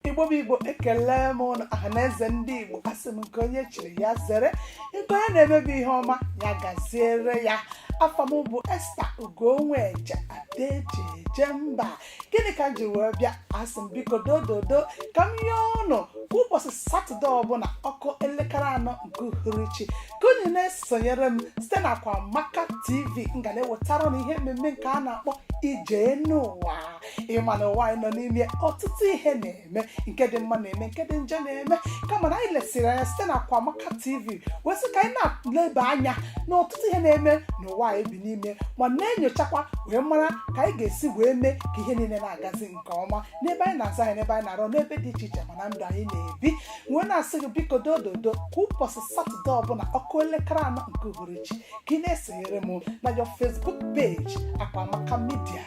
igbo bụ igbo ekelee m ụnụ ọha na eze ndị igbo asị m nke onye chiri ya zere nke onye na-eme bụ ihe ọma ya gaziere ya afa m bụ esta ugonweje ada eji eje mba gịnị ka m ji wee bịa asị m biko dododo ka m yọọ ụnụ kwa ụbọchị satọde ọbụla ọ kụọ elekere anọ nke uhuruchi ka unu na-esonyere m site na akwamaka tv m ga na-ewetara ụnụ ihe mmemme nke a na-akpọ ije n'ụwa ị ma na ụwa anyị nọ n'ime ọtụtụ ihe na-eme nke dị mma na-eme nke dị njọ na-eme kama na anyị lesịrị anya site na Akwamaka TV wee sị ka anyị na-eleba anya na ọtụtụ ihe na-eme n'ụwa anyị bi n'ime ma na-enyochakwa wee mara ka anyị ga-esi wee mee ka ihe niile na-agazi nke ọma n'ebe anyị na-azụ ahịa n'ebe anyị na-arụ n'ebe dị iche iche ma na ndụ anyị na-ebi wee na-asị gị biko dododo kwa ụbọchị satọde ọbụla ọ kụọ elekere anọ nke uhuruchi ka ị na-esonyere m na our facebook page akwamaka media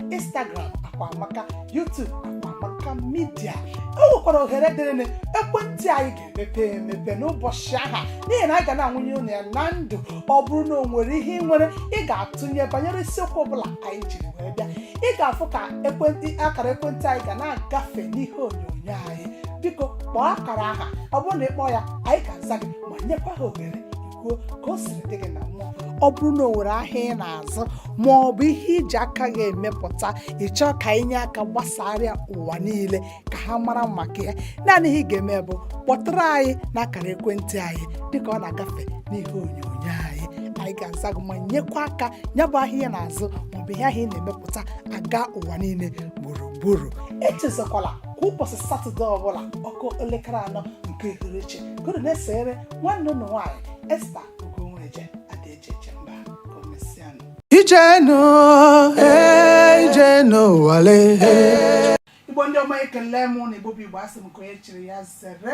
instagram akwamaka youtube akwamaka media o nwekwara ohere dịrịnụ ekwentị anyị ga-emepe emepe n'ụbọchị ahụ n'ihi na anyị ga na-ebunye unu ya na ndụ ọ bụrụ na o nwere ihe ị nwere ị ga-atụnye banyere isiokwu ọbụla anyị jiri wee bịa ị ga-afụ ka ekwentị akara ekwentị anyị ga na-agafe n'ihe onyonyo anyị biko kpọọ akara ahụ ọ bụrụ na ị kpọọ ya anyị ga-aza gị ma nyekwa gị ohere kwuo ka o siri dị gị na mmụọ ọ bụrụ na o nwere ahịa ị na-azụ ma ọ bụ ihe i ji aka gị emepụta ị chọọ ka anyị nye aka gbasara ya ụwa niile ka ha mara maka ya naanị ihe ị ga-eme bụ kpọtụrụ anyị n'akara ekwentị anyị dịka ọ na-agafe n'ihe onyonyo anyị anyị ga-aza gị ma nyekwa aka ya bụ ahịa ị na-azụ maọbụ ihe ahụ ị na-emepụta agaa ụwa niile gburugburu echezakwala kwa ụbọchị satọde ọbụla ọ kụọ elekere anọ nke uhuruchi nọrọ na-esere nwanne ụnụ nwaanyị esta ugonweje ada eji eje mba ka o mesịanụ Ije n'ụwa, eh, ije n'ụwa le, eh. igbo ndị ọma ekelee m ụnụ igbo bụ igbo asị m nke onye chiri ya zere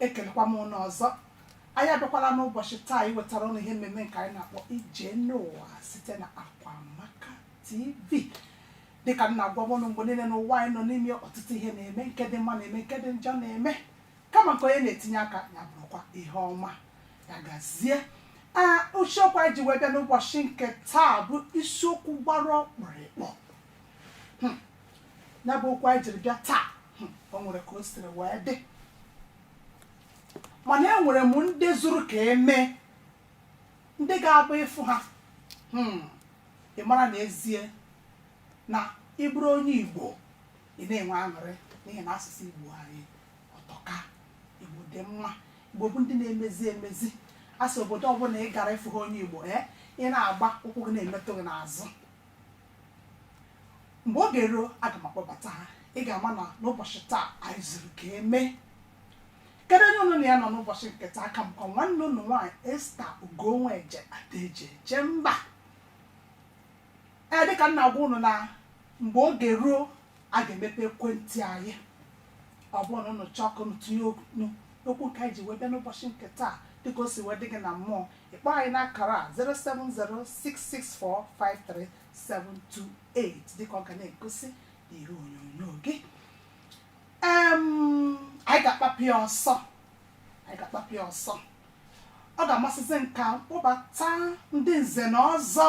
ekelekwa m ụnụ ọzọ anyị abịakwala n'ụbọchị taa iwetara ụnụ ihe mmemme nke anyị na-akpọ ije n'ụwa site na akwamaka tv dịka m na-agwa ụnụ mgbe niile n'ụwa anyị nọ n'ime ọtụtụ ihe na-eme nke dị mma na-eme nke dị njọ na-eme kama nke onye na-etinye aka ya bụrụkwa ihe ọma ya gazie ee isiokwu anyị ji wee bịa n'ụbọchị nke taa bụ isiokwu gbara ọkpụrụkpụ Hmm. ya bụ okwu anyị jiri bịa taa hmm, o nwere ka o siri wee dị mana enwere m ndị zuru ka emee ndị ga-abụ ị fụ ha hmm, ị mara na ezie na ị bụrụ onye Igbo ị na-enwe aṅụrị n'ihi na asụsụ Igbo anyị ọ tọka Igbo dị mma Igbo bụ ndị na-emezi emezi a sị obodo ọbụla ị gara ị fụha onye Igbo ee ị na-agba ụkwụ gị na-emetụ gị n'azụ mgbe oge ruo aga m akpọbata ha ị ga-ama na n'ụbọchị taa anyị zuru ka emee kedu onye unu na ya nọ n'ụbọchị nke taa aka m bụ nwanne unu nwaanyị Esther Ugonwa Eje ada eji eje mba ee dịka m na-agwa unu na mgbe oge ruo a ga-emepe ekwentị anyị ọ bụrụ na unu chọọ ka unu tinye okwu okwu nke anyị ji wee bịa n'ụbọchị nke taa dịka o si wee dị gị na mmụọ ị kpọọ anyị n'akara a 07066453728 dịka ọ ga na-egosi n'ihe onyonyo gị anyị ga-akpapụ ya ọsọ anyị ga-akpapụ ya ọsọ ọ ga-amasịzi m ka m kpọbata ndị nze na ọzọ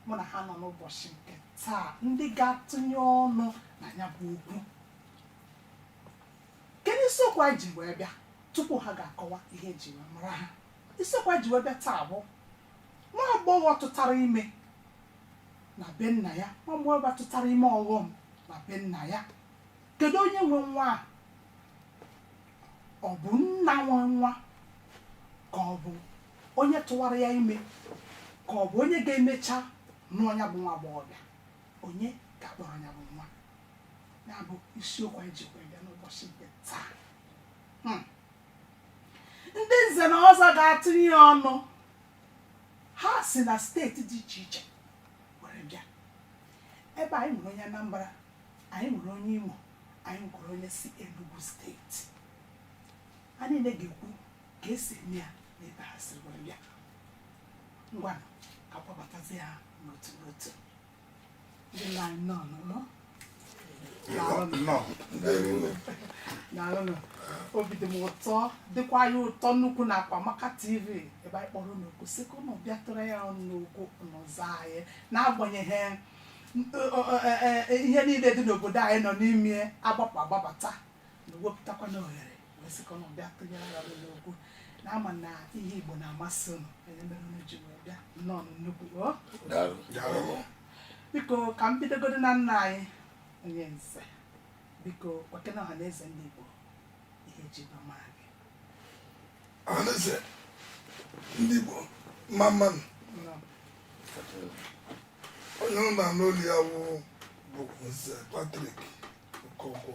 mụ na ha nọ n'ụbọchị nke taa ndị ga-atụnye ọnụ na ya bụ okwu kedu isiokwu anyị ji wee bịa tupu ha ga-akọwa ihe eji wee mara ha isiokwu anyị ji wee bịa taa bụ nwa agbọghọ tụtara ime na be nna ya agbọghọbịa tụtara ime ọghọm na be nna ya kedu onye nwe nwa a ọ bụ nna nwe nwa ka ọ bụ onye tụwara ya ime ka ọ bụ onye ga-emecha nụọ ya bụ nwa agbọghọbịa onye ga-akpọrọ ya bụ nwa ya bụ isiokwu anyị jikwa bịa n'ụbọchị nke taa Hmm. ndị nze na ọzọ ga-atụnye ya ọnụ ha si na steeti dị iche iche were bịa ebe anyị nwere onye Anambra anyị nwere onye Imo anyị nwere onye si Enugu steeti ha niile ga-ekwu ka esi eme ya na ebe ha siri were bịa ngwanụ ka m kpọbatazie ha n'otu n'otu daalụnụ obi dị m ụtọ dịkwa anyị ụtọ nnukwu na Akwa Amaka TV ebe anyị kpọrọ unu oku sị ka unu bịa tụnyere anyị ọnụ n'okwu unu zaa anyị n'agbanyeghị ihe niile dị n'obodo anyị nọ n'ime agbapụ agbabata unu wepụtakwanụ ohere wee sị ka ụnụ bịa tụnyere anyị ọnụ n'okwu na ama na ihe igbo na-amasị ụnụ ọ ya mere unu ji wee bịa nnọọ nnukwu o Daalụ. biko ka m bidogodo na nna anyị onye nze biko gwakene ọha na eze ndị igbo ihe eji wee mara gị Ọhaneze ndị Igbo mma mmanụ Nnọọ. onye ị na-anụ olu ya wụ nze Patrick Okonkwo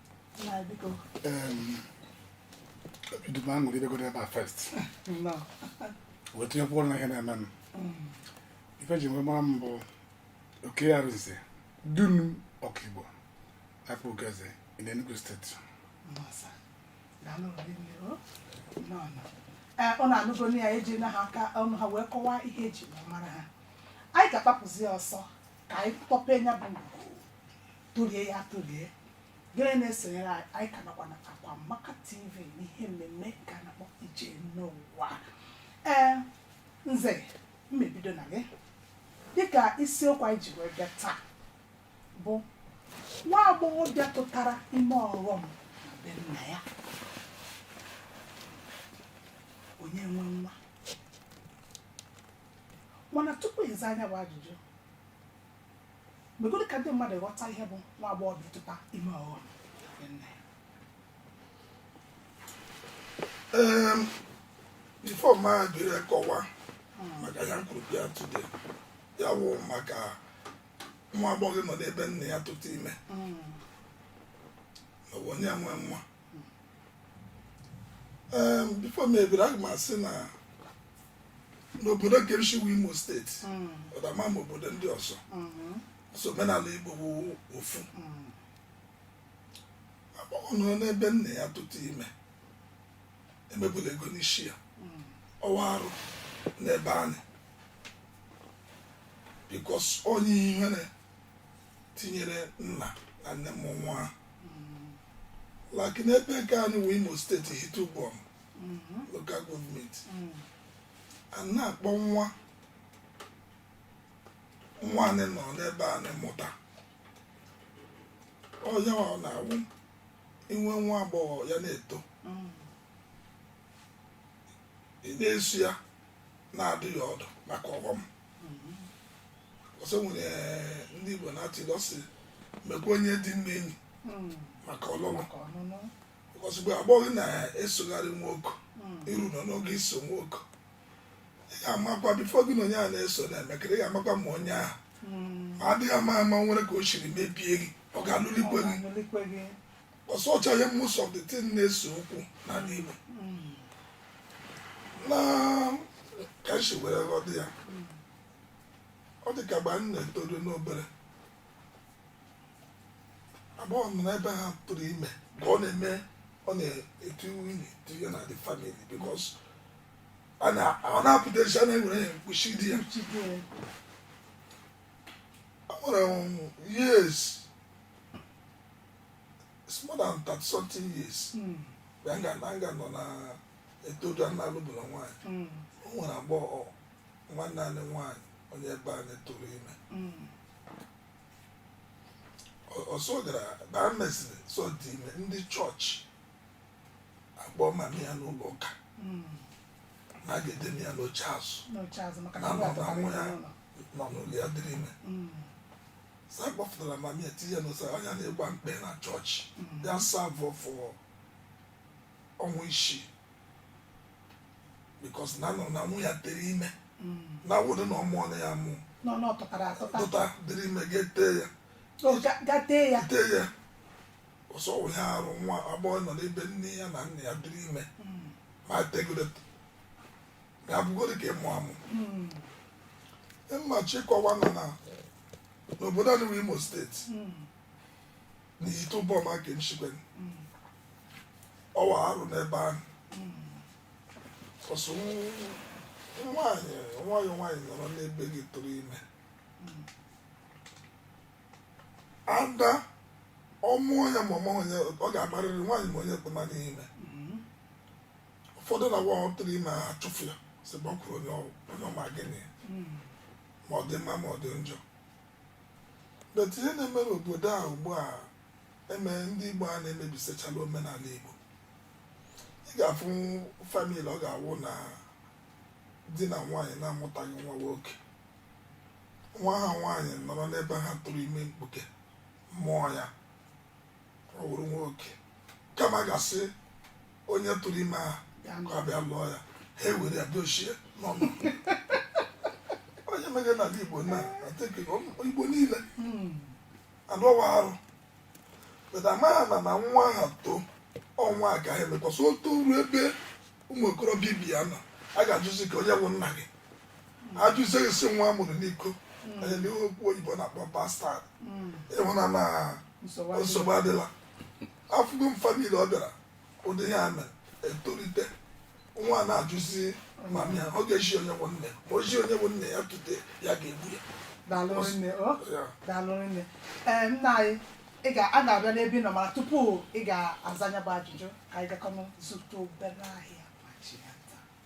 duma ṅụrụ ibe godo ebe a first wee tinye kwụkwọ na ihe na-eme m ife eji wee mara m bụ oke ya rụzie dunu ọkaigbo Akpugoeze in Enugu state ụnụ anụgo na ya eji na ha aka ọnụ ha wee kọwaa ihe eji wee mara ha anyị ga-agbapụzi ọsọ ka anyị kpọpee nya bụ ngwugwu tụlie ya tụlie gị na-esonyere anyị anyị ka nọkwa na akwa maka tv n'ihe mmemme nke a na-akpọ ije n'ụwa ee nze m ebido na gị dịka isiokwu anyị ji wee bịa taa bụ nwa agbọghọbịa tụtara ime ọghọm na be nna ya onye nwe nwa mana tupu ị zaa nya bụ ajụjụ megodo ka ndị mmadụ ghọta ihe bụ nwa agbọghọbịa ịtụta ime ọghọm before ma biri kọwa maka ihe anyị kwuru bịa today a wụ maka nwa agbọghọ nọ n'ebe nna ya tụta ime ma onye nwe nwa before m ebere aga m asị na n'obodo nke m shi wụ Imo state ọdama ma obodo ndị ọzọ so omenala Igbo bụ ofu agbọghọ nọ n'ebe nna ya tụta ime emebula ego n'ishi ya ọ wụ arụ n'ebe anyị because onye ihere tinyere nna na nne mụ nwa a like n'ebe nke anyị wụ Imo state Ihitte Uboma local government a na-akpọ nwa nwaanyị nọ n'ebe nna ya mụta onye ọ na-awụ i nwee nwa agbọghọ ya na-eto ị na-eso ya na-adụ ya ọdụ maka ọghọm because o nwere ndị Igbo na-atụ ilu sị mekwa onye dị mma enyi maka ọlụlụ because mgbe agbọghọ na-esogharị nwoke iru nọ n'oge iso nwoke ị ga-amakwa before gị na onye a na-eso na-emekọ ihe ị ga-amakwa ma onye ahụ ma adịghị ama ama nwere ka o shiri mebie gị ọ ga-alụlikwe gị ọsọchaghị most of the thing na-ese okwu na n'ime na ka esi were ghọta ya ọ dị ka mgbe anyị na-etoru n'obere agbọghọ nọ n'ebe ha tụrụ ime ka ọ na-eme ọ na-etu nwunye tinye na the family because a na- ọ na-apụta esi a na-enwere ya mkpuchi di ya o nwere um, years it's more than 30 something years mm. mgbe a ga- a ga nọ na-etoru a na-alụbu na nwaanyị Mm. o nwere agbọghọ nwanne anyị nwaanyị onye ebe anyị tụrụ ime Mm. Ọ- so ọ gara na e mesịrị sị ọ dị ime ndị church akpọọ mami ya n'ụlọ ụka Mm. na a ga-edebe ya n'oche azụ n'oche azụ maka na na nwa nwa ọbụla nwa ya n'ụlọ. nọ n'ụlọ ya dịrị ime Mm. so a gbafụtara mami ya tinye n'ụsa anya na-egba mkpe na church ya serve for ọnwa isii because na anọ na nwa ya tere ime na ọ wụdị na ọ mụọ nụ ya mụ nọ n'ọtụtara atụta dụta dịrị ime ga-ete ya O ga- ga tee ya ete ya ọsọ wụ ihe arụ nwa agbọghọ nọ n'ebe nne ya na nna ya dịrị ime ma tegodu ya bụgoro ka ịmụ amụ mmachi kọwa nọ na n'obodo anyị bụ imo state na ihitte uboma ka m shi ke ọ wụ arụ n'ebe ahụ ọ sị nwaanyị nwa gị nwaanyị nọrọ n'ebe gị tụrụ ime ada ọ mụọ ya ma ọ mụọ ya ọ ga-amarịrị nwaanyị ma onye kpụma n'ime ụfọdụ na nwa ha tụrụ ime ha achụfụ ya sị gbakwuru onye ọ wụ onye ọma gịnị ma ọ dị mma ma ọ dị njọ but ihe na-eme n'obodo a ugbu a eme ndị igbo a na-emebisichala omenala igbo ị ga-afụ family ọ ga-awụ na di na nwaanyị na-amụtaghị nwa nwoke nwa ha nwaanyị nọrọ n'ebe ha tụrụ ime mkpuke mụọ ya ọ wụrụ nwoke kama a ga-asị onye tụrụ ime ahụ ka ọ bịa lụọ ya ha ewere ya dochie n'ọnụ onye mere n'ala igbo I think igbo niile anyị ọ wụ arụ but ha amaghị na na nwa ahụ too ọnwa agaghị emekwasị otu ruo ebe ụmụ okorobịa ibe ya nọ a ga-ajụzi ka onye bụ nna gị ajụzie gị sị nwa a mụrụ n'iko onye na ihe okwu oyibo na-akpọ bastard ị hụ na na nsogbu adịla afụgo m family ọ bịara ụdị ya mere etolite nwa na-ajụzi mami ya ọ ga-ezi onye bụ nna ya ma o zi onye bụ nna ya today ya ga-egbu ya daalụ nne o Ya. daalụ nne ee nna anyị ị ga a ga-abịa n'ebe ị nọ mana tupu ị ga-aza nya bụ ajụjụ ka anyị gakọọnụ zụta obere ahịa ma chighata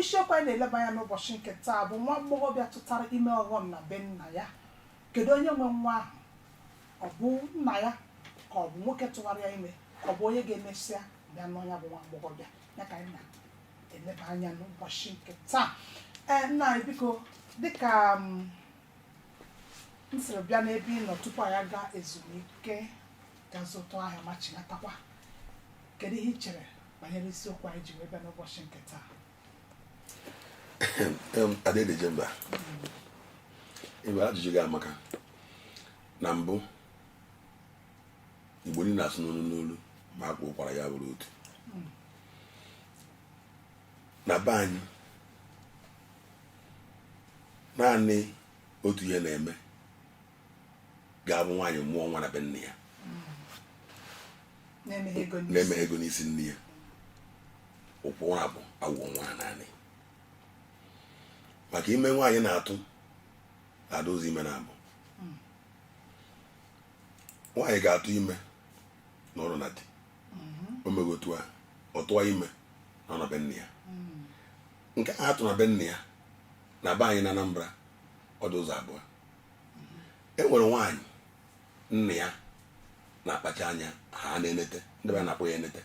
Isiokwu anyị na-eleba anya n'ụbọchị nke taa bụ nwa agbọghọbịa tụtara ime ọghọm na be nna ya. Kedu onye nwe nwa ahụ? Ọ bụ nna ya ka ọ bụ nwoke tụwara ya ime ka ọ bụ onye ga-emesịa bịa nụọ ya bụ nwa agbọghọbịa ya ka anyị na-eleba anya n'ụbọchị nke taa. Ee, nna anyị biko dịka m siri bịa n'ebe ị nọ tupu anyị aga ezumike ga zụtụ ahịa ma chinatakwa kedu ihe ị chere banyere isiokwu anyị ji wee bịa n'ụbọchị nke taa Ada eji eje mba ajụjụ gị amaka na mbụ igbo niile asụ n'olu n'olu ma akwaa ụkwara ya bụrụ otu na be anyị naanị otu ihe na-eme ga-abụ nwaanyị mụọ nwa na be nna ya na emeghị ego n'isi nne ya ụkwụ nwa bụ agwọ nwa naanị maka ime nwaanyị na-atụ adị ụzọ ime na-abụ nwaanyị ga-atụ ime nọrọ na di o meghị otu a ọ tụọ ime na ọ nọ be nna ya nke a atụ na be nna ya na be anyị na Anambra ọ dị ụzọ abụọ e nwere nwaanyị nna ya na-akpacha anya ha na-enete ndị be na-akpọ ya enete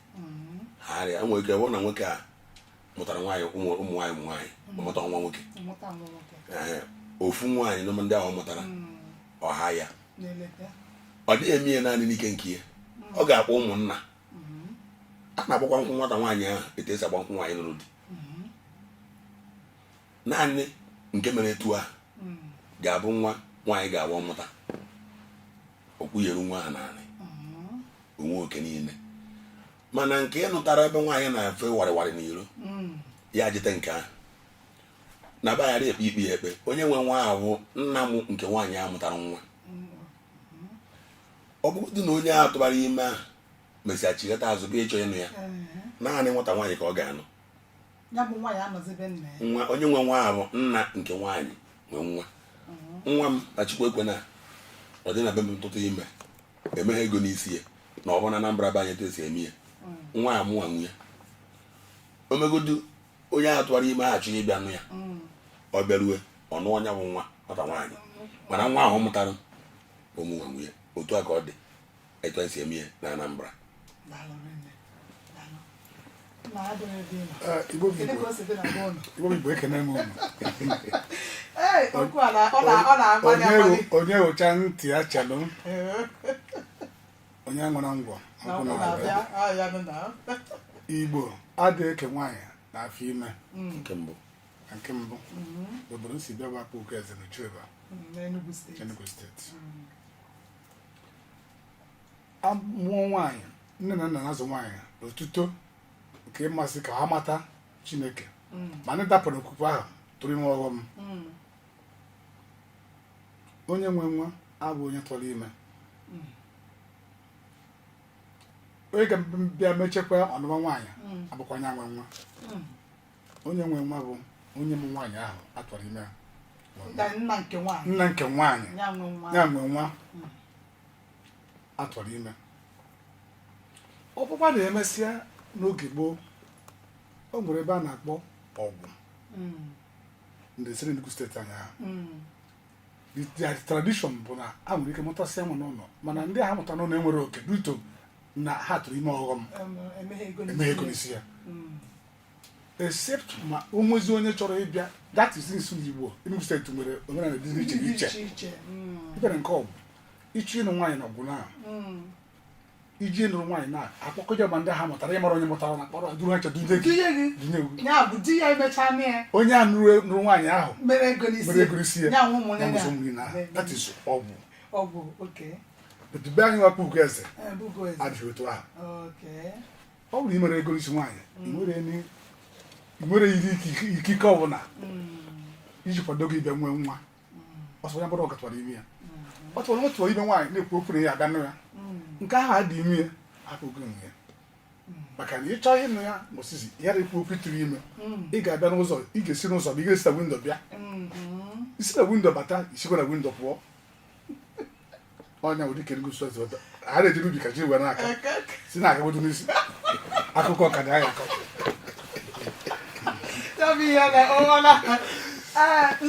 ha arịa nwere ike wụrụ na nwoke a mụtara nwaanyị ụmụ ụmụ nwaanyị ụmụ nwaanyị ọ mụta nwa nwoke Mmụta nwa nwoke. Ee, ofu nwaanyị n'ụmụ ndị ahụ ọ mụtara ọ ha ya na-enete. ọ dịghị eme ya naanị n'ike nke ya ọ ga-akpọ ụmụnna a na-agbakwa nkwụ nwata nwaanyị ahụ etu esi agba nkwụ nwaanyị lụrụ di naanị nke mere etu a hmm. ga-abụ nwa nwaanyị ga-abụ ọ mụta okwunyere nwa ha naanị hmm. o nwee oke niile mana nke a mụtara ebe nwaanyị na-efe warịwarị n'iro hmm. ya jite nke ahụ na be ghara ekpe ikpe ya ekpe onye nwe nwa bụ nna m nke nwaanyị a mụtara nwa ọ bụrụdị na onye a tụbara ime ahụ mesịa chighata azụ bịa ịchọ ịnụ ya naanị nwata nwaanyị ka ọ ga-anụ ya bụ nwa ya anọzi be nna ya nwa onye nwe nwa bụ nna nke nwaanyị nwe nwa nwa m ma chukwu ekwena ọ dị na be m tụta ime emeghị ego n'isi ya na ọ bụ na Anambra be anyị etu esi eme ya nwa ya mụwa nwe ya o megodu onye ahụ tụwara ime ahụ chọọ ịbịa nụ ya ọ bịarue ọ nụọ ya bụ nwa nwata nwaanyị mana nwa ahụ ọ mụtara bụ mụwa nwe ya otu a ka ọ dị etu anyị si eme ihe na Anambra Igbo Igbo ekene m unu onye wụcha ntị ya chelụ onye nwere ngwọ Igbo adịghị eke nwaanyị na afọ ime mm. nke mbụ nke mbụ mm-hmm. obodo m si bịa bụ Akpugoeze na Oji River mm, Enugu steeti mm. amụọ nwaanyị nne na nna na-azụ nwaanyị n'otuto nke ịmasị ka ha mata chineke ma ndị dapụrụ okwukwe ahụ tụrụ ime ọghọm onye nwe nwa abụ onye tụrụ ime onye ga-abịa mechakwa ọ nụwa nwaanyị abụkwa onye nwe nwa onye nwe nwa bụ onye mụ nwaanyị ahụ a tụwara ime ya. nna nke nwaanyị nna nke nwaanyị ya nwe nwa ya nwe nwa a tụwara ime ọkpụkpa na-emesịa n'oge gboo o nwere ebe a na-akpọ Awgu Mm, ndị siri Enugu steeti anyị ahụ mm, the their tradition bụ na ha nwere ike mụtasịa nwa n'ụlọ mana ndị ha mụta n'ụlọ enwere oke due to na ha tụrụ ime ọghọm em- emeghị ego eme ego n'isi n'isi ya Mm, except ma o nwezi onye chọrọ ịbịa that is nsu igbo Enugu steeti nwere omenala dị iche dị iche iche iche mm, i were nke Awgu ị chọ ịnụ nwaanyị na Awgu na mm. iji ịnụrụ nwaanyị na akpọkọta ma ndị ha mụtara ịmara onye mụtara na kpọrọ duru ha chọdụ ndị gị Ihe gị dị n'egwu ya bụ di ya emecha mee ya onye a nụrụ nụrụ nwaanyị ahụ mere ego n'isi mere ego isi ya ya nwe ụmụnne ya nwụsọ mmiri na ya that is Awgu Awgu okay but be anyị nwa Akpugoeze Akpugoeze adịghị otu ahụ okay ọ bụrụ i mere ego isi nwaanyị nwere ikike ọbụla mm. iji kwado gị bịa nwee nwa mm. ọsọ ya bụrụ ọ gị tụwara ime ya ọ tụwara nwa tụwara ime nwaanyị na-ekwu okwu na ya aga nụ ya mm. nke ahụ adị ime ya hapụ gị ya maka na ị chọ ịnụ ya mosizi ya na-ekwu okwu ị tụrụ ime ị ga-abịa n'ụzọ ị ga-esi n'ụzọ bụ ị ga-esi na windo bịa mm-hmm. i si na windo bata i sikwa na windo pụọ ọnya ụdị kere gosi ọzọ a na-eji n'ubi ka ji were aka si na-agagodo n'isi akụkọ ka dị anya akọ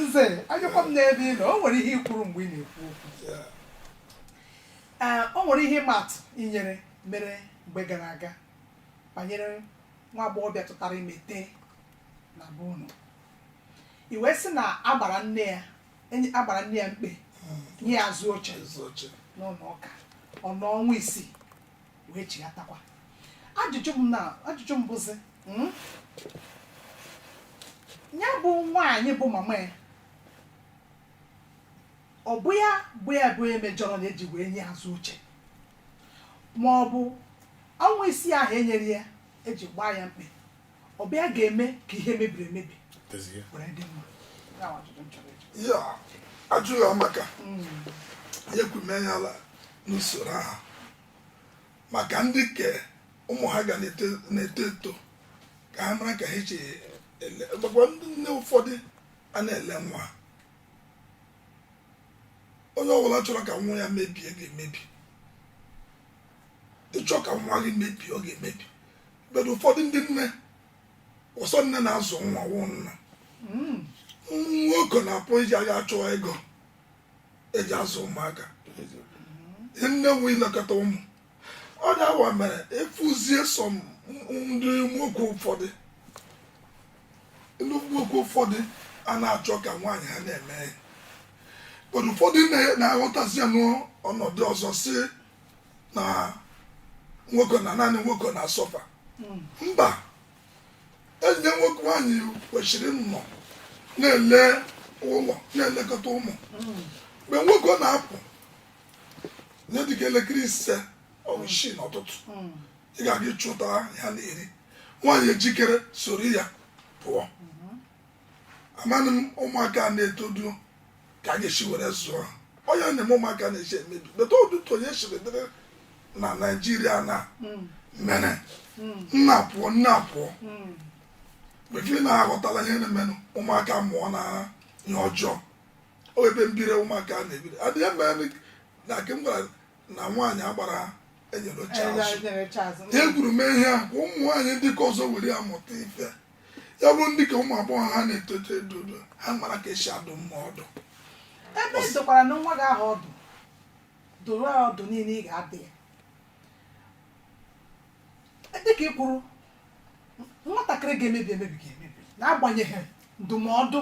nze anyakwa m n'ebe ị nọ o nwere ihe i kwuru mgbe ị na-ekwu okwu o nwere ihe ị matụ inyere mere mgbe gara aga banyere nwa agbọghọbịa tụtara ime na be unu i wee sị na a gbara nne ya enye- a gbara nne ya mkpe nye ya azụ oche n'ụlọ ụka ọ nọ ọnwa isii wee chighatakwa ajụjụ m na ajụjụ m bụzi mm, ya bụ nwaanyị bụ mama ya ọ bụ ya bụ ya bụ onye mejọrọnụ eji wee nye azụ oche ma ọ bụ ọnwa isii ahụ enyere ya eji gbaa ya mkpe ọ bụ ya ga-eme ka ihe mebiri emebi were dị mma Ya bụ ajụjụ m chọrọ ịjụ. ya ajụ ya maka ya kwume ya ala n'usoro ahụ maka ndị ke ụmụ ha ga na-eto na-eto eto ka ha mara ka ha eji ele gbakwa ndị nne ụfọdụ a na-ele nwa onye ọbụla chọrọ ka nwa ya mebie ga-emebi ị chọọ ka nwa gị mebie ọ ga-emebi but ụfọdụ ndị nne ọ sọ nne na-azụ nwa wụ nna hmm. nwoke na-apụ eje achụ ego eji azụ ụmụaka nne nwe ilekọta ụmụ ọ na-awa mere efuzie so ndị nwoke ụfọdụ ndị nwoke ụfọdụ a na-achọ ka nwaanyị ha na-eme but ụfọdụ na-aghọtazi ya n'ọnọdụ ọzọ si na nwoke na naanị nwoke na-asuffer hmm. mba enyi nwoke nwaanyị kwesịrị ịnọ na-ele ụlọ na-elekọta ụmụ hmm. mgbe nwoke ahụ na-apụ ihe dịka elekere ise ọ wụ isii n'ụtụtụ hmm. ị ga-aga ịchụta ihe ha na-eri nwaanyị ejikere soro ya pụọ amaghị m ụmụaka na-etodu ka anyị si were zụọ ọ ya na-eme ụmụaka na-esi emebi but otu ihe siri dịrị na Nigeria na hmm. mere hmm. nne apụọ nna apụọ hmm. before ị na-aghọtala ihe na-emenụ ụmụaka amụọna ihe ọjọọ o ebe mbiri ụmụaka na-ebiri adịghị mma na ke m gwara na nwaanyị agbara enyere oche azụ e kwuru mee ihe a ka ụmụ nwaanyị ndị ke ọzọ were ya mụta ife ya bụrụ ndị ke ụmụ agbọghọ ha na-eto eto ha mara ka esi adụ nwa ọdụ ebe ị dụkwaranụ nwa gị ahụ ọdụ dụọ ya ọdụ niile ị ga-adụ ya dịka ị kwuru nwatakịrị ga-emebi emebi ga-emebi n'agbanyeghị ndụmọdụ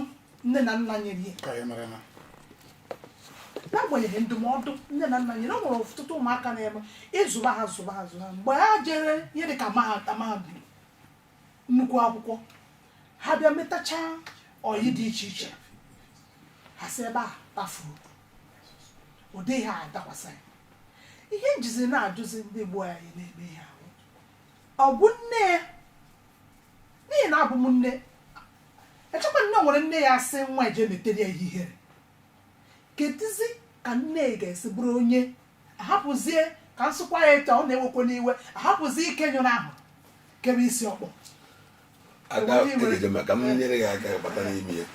nne na nna nyere ya ka ya mere na n'agbanyeghị ndụmọdụ nne na nna nyere o nwere ọtụtụ ụmụaka na-eme ị zụba ha zụba ha zụba ha mgbe ha jere ihe dịka mahadum mahadum nnukwu akwụkwọ ha bịa metacha ọyị dị iche iche ha si ebe a tafuo ụdị ihe a adakwasa ya ihe m jizi na-ajụzi ndị gboo anyị na-eme ihe ahụ ọ bụ nne ya n'ihi na abụ m nne echekwa m na e nwere nne ya-asị nwa ya je metere ya ihe ihere kedụzi ka nne ga-esi bụrụ onye ahapụzie ka m sụkwa ya etu ọ na-ewekwa m iwe ahapụzie ike nyụrụ ahụ kebe isi ọkpọ ada Onye nwere- egeje ma ka m nyere gị aka bata n'ime ya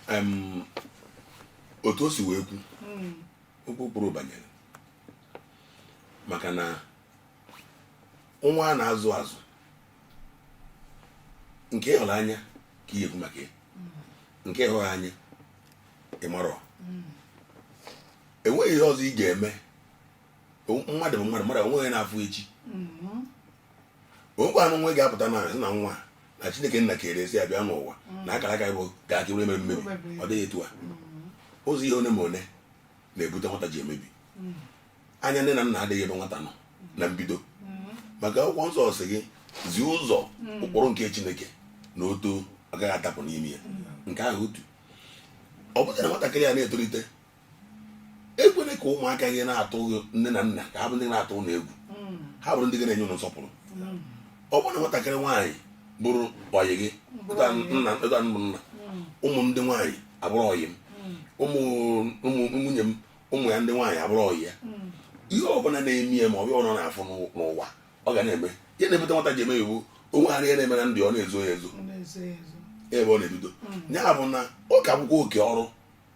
Em, otu o si wee kwu okwu o kwuru banyere maka na nwa a na-azụ azụ nke ị hụrụ anya ka ị ya-ekwu maka ya nke ị hụghị anya ị marọ enweghị ihe ọzọ ị ga-eme mmadụ bụ mmadụ mmadụ o nweghị na-afụ echi mm-hmm. o nwekwanụ onye ga-apụta sị na nwa na chineke nna kere esi abịa n'ụwa mm. na akara aka bụ ga aka mere mmebi ọ dịghị etu a mm-hmm. ụzọ ihe one ma one na-ebute nwata ji emebi mm. anya nne na nna adịghị ebe nwata nọ mm. na mbido mm-hmm. maka akwụkwọ nsọ sị gị zie ụzọ ụkpụrụ nke chineke na o too ọ gaghị adapụ n'ime ya nke ahụ otu ọ bụrụ na nwatakịrị ya na-etolite ekwene ka ụmụaka gị na-atụ nne na nna ka ha bụ ndị na-atụ unu egwu mm. ha bụrụ ndị ga na-enye unu nsọpụrụ mm. ọ bụrụ na nwatakịrị nwaanyị bụrụ ọyị gị ụta nna mm. ụmụ ndị nwaanyị abụrụ ọyị m ụmụ nwunye m ụmụ ya ndị nwaanyị abụrụ ọyị ya ihe ọbụla na-eme ya ma ọ bụrụ ọ na-afụ n'ụwa ọ ga na-eme ihe na-ebute nwata ji emebi wụ o nwegara ihe na-eme na ndụ ya ọ na-ezo ya ezo ebe ọ na-ebido ya bụ na ọ ka bụkwa oke ọrụ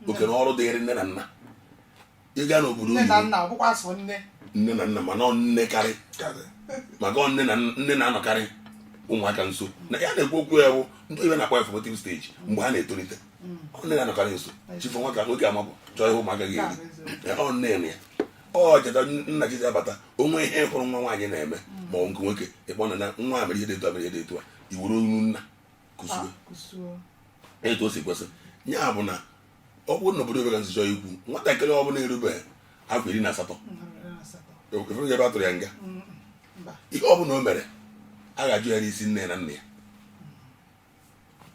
oke na ọrụ dịrị nne na nna ịga n'obodo nne na nna ọ bụkwa sọ nne nne na nna mana nne karị maka nne na nne na-anọkarị ụmụaka nso na ya na-ekwu okwu ya bụ ndị bekee na-akpọ ya formative stage mgbe ha na-etolite mm. nne na-anọkarị nso chi fo nwoke ga-amapụ chọọ ihe ụmụaka ga-eri ọ nne na ya ọ cheta nna gị abata o nwee ihe ị hụrụ nwa nwaanyị na-eme mm. ma ọ nke nwoke ị kpọọ nna nwa mere ihe dị etu a mere ihe dị etu a i were onu nna kuzie etu o si kwesị ya bụ na ọ bụrụ n'obodo nwere ezigbo iwu nwatakịrị ọ bụla erubeghị afọ iri na asatọ efere ebe a tụrụ ya nga ihe ọ bụla o mere a ga-ajụ ya n'isi nne na nna ya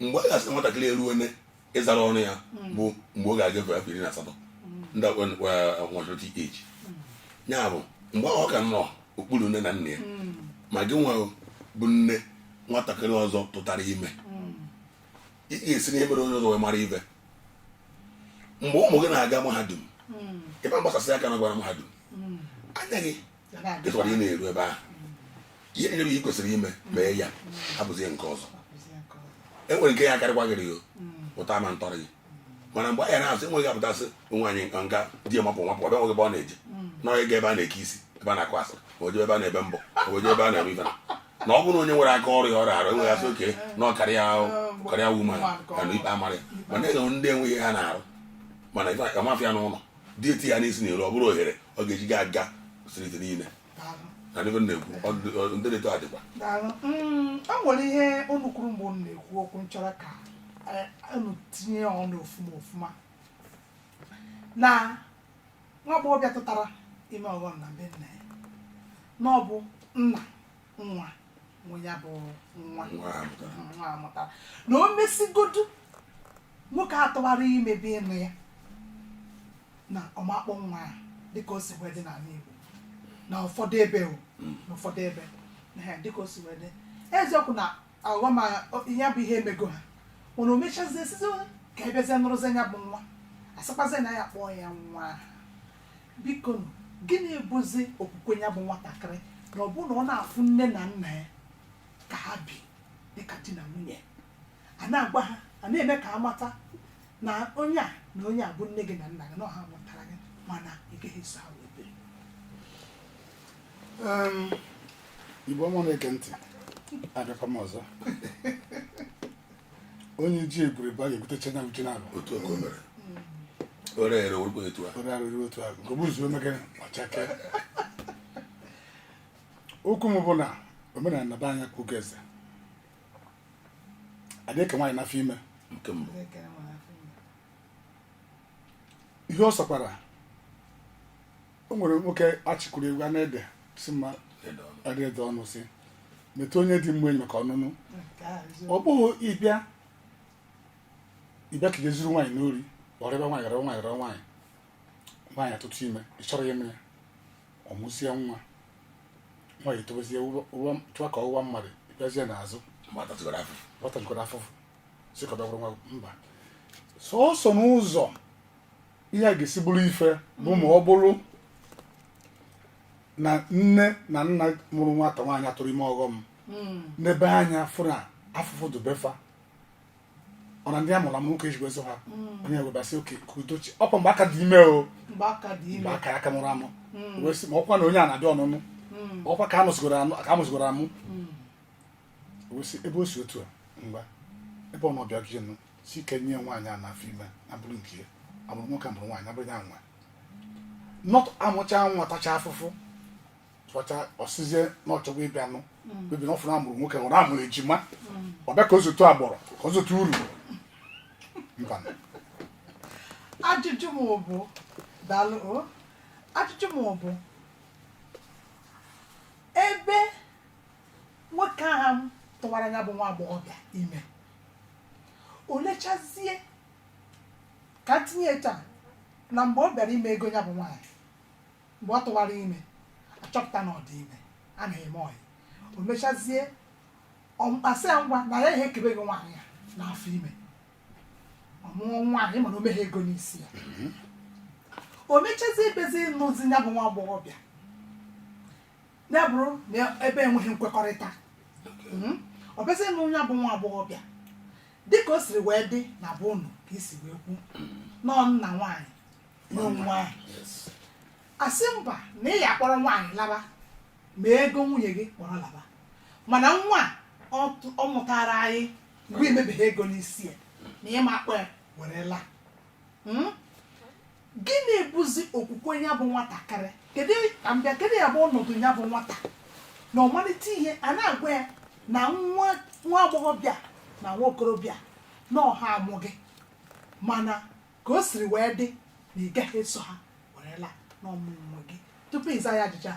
mgbe a ga-asị nwatakịrị eruone ịzara ọnụ ya hmm. bụ mgbe ọ ga-agafe afọ iri na asatọ hmm. the maturity age ya bụ mgbe ọ ka nọ okpuru nne na nna ya hmm. ma gị nwa bụ nne nwatakịrị ọzọ tụtara ime ị ga-esi n'ihe mere onye ọzọ wee mara ihe mgbe ụmụ gị na-aga mahadum ị ma-agbasasị aka na ọ gara mahadum anya gị ịtụkwara ị na-eru ebe ahụ ihe nyere ị kwesịrị ime mee ya abụzie nke ọzọ e nwere nke ya akarịkwa gịrị ya pụta ma ntọrọ gị mana mgbe anyị na-azụ enweghị apụtasị nwaanyị nka nka di ya mapụ mapụ ọ bịa nweghị ebe ọ na-eje na onye ga ebe a na-eke isi ebe a na-akụ asịrị ma o je ebe a na-ebe mbọ ma o je ebe a na-eme ife na ọ bụrụ onye nwere aka ọrụ ya ọrụ arụ enweghị asị oke na ọ karịa karịa wuma ya na ikpe amara ya mana enwe ndị enweghị ha na-arụ mana ife amafịa n'ụlọ di eti ya n'isi na-eru ọ bụrụ ohere ọ ga-eji gị aga striti niile na ndị na-ekwu ọ- ndị na-eto adịkwa Daalụ. Mm, o nwere ihe unu kwuru mgbe unu na-ekwu okwu m chọrọ ka eh, unu tinye ya ọnụ ofuma ofuma na nwa agbọghọbịa tụtara ime ọghọm na be nna ya na ọ bụ nna nwa nwe ya bụ nwa nwa a mụtara Mhm, nwa a mụtara na o mesigodu nwoke a tụwara ime bụ ịnụ ya na ọ ma-akpọ nwa a dịka o si wee dị n'ala Igbo na ụfọdụ ebe o na ụfọdụ ebe ehe, dịka o si wee dị eziokwu na aghọm a- o- ya bụ ihe emego ha mana o mechazie sịzi ka a bịazie nụrụzie ya bụ nwa a sịkwazie na ya kpọọ ya nwa aha bikonụ, gịnị bụzi okwukwe ya bụ nwatakịrị na ọ bụrụ na ọ na-afụ nne na nna ya ka ha bi dịka di na nwunye a na-agwa ha a na-eme ka ha mata na onye a na onye a bụ nne gị na nna gị na ọ ha mụtara gị mana ị gaghị eso ha wee biri Em, Igbo ọma na-ege ntị abịakwa m ọzọ onye ji egwure bụ a ga-ebutecha nya uche n'alụ otu o mere o rere orukwa etu a ore arụrụ otu ahụ nke obuzu emekere ọchake okwu m bụ na omenala na be anyị ka oge eze adịghị ka nwaanyị n'afọ ime nke mbụ ihe ọ sọkwara o nwere nwoke achịkwuru egwu a na-ede si mma adaede ọnụ si metụ onye dị mma enyi maka ọnụnụ ọ bụghị ị bịa ị bịa ka jee zuru nwaanyị n'ori ọrịba nwaanyị gara nwaanyị gara nwaanyị nwaanyị atụta ime ị chọrọ ya ime ya ọ mụzie nwa nwaanyị etobezie chọwa ka ọ wụwa mmadụ ị bịazie n'azụ nwata tụgara afọ nwata jikọrọ afụfụ mba sọsọ n'ụzọ ihe a ga-esi bụrụ ife bụ ma ọ bụrụ na nne na nna mụrụ nwata nwaanyị atụrụ ime ọghọm hmm. n'ebe anya fụrụ na afụfụ dị be fa ọ na ndị a mụrụ amụ nwoke ejigbo ezo ha hmm. onye webasị oke ka udochi ọ kwa mgbe a ka dị ime o mgbe aka ya ka mụrụ amụ hmm. wee sị ma ọ kwa na onye a na-adị ọnụnụ ọ kwa ka a mụzigoro amụ ebe o si otu a mgba ebe ọ nọ bịa gịnị si ike nye nwaanyị a n'afọ ime na bụrụ nke ya amụrụ nwoke amụrụ nwaanyị ọ bụrụ ya nwe not amụcha nwa tacha afụfụ tụọcha ọ sịzie na ọ chọgwa ịbịa nụ mm. bebi na ọ fụrụ amụrụ nwoke hụrụ amụrụ ejima mm. ọ bịa ka o zotu agbọrọ ka o zotu uru mba ajụjụ m bụ daalụ ajụjụ m bụ ebe nwoke ahụ tụwara ya bụ nwa agbọghọbịa ime o lechazie ka m tinye etu a na mgbe ọ bịara ime ego ya bụ nwaanyị mgbe ọ tụwara ime a chọpụta na ọ dị ime a na-eme ọyị o mechazie a sị ya ngwa na ya ihe ekebego nwaanyị a n'afọ ime ọ mụọ nwaanyị mana o meghị ego n'isi ya o mechazie bịazie nụzie ya bụ nwa agbọghọbịa ya bụrụ na ebe enweghị nkwekọrịta Mhm. ọ bụzie na ya bụ nwa agbọghọbịa dịka o siri wee dị na be unu ka i si wee kwu na ọ nna nwaanyị nwe nwa ahụ Yes. a sị mba na ị ya akpọrọ nwaanyị laba mee ego nwunye gị kpọrọ laba mana nwa a, ọ tụ- ọ mụtara anyị mgbe i mebeghị ego n'isi ya na ị ma akpọ ya were laa Mm? gịnị bụzi okwukwe ya bụ nwatakịrị kedu ka m bịa kedu ihe ya-abụ ọnọdụ ya bụ nwata na ọ malite ihe a na-agwa ya na nwa nwa agbọghọbịa na nwa okorobịa na ọ ha mụ gị mana ka o siri wee dị na ị gaghị eso ha were laa n'ọmụmụ gị tupu ịza ya ajụjụ a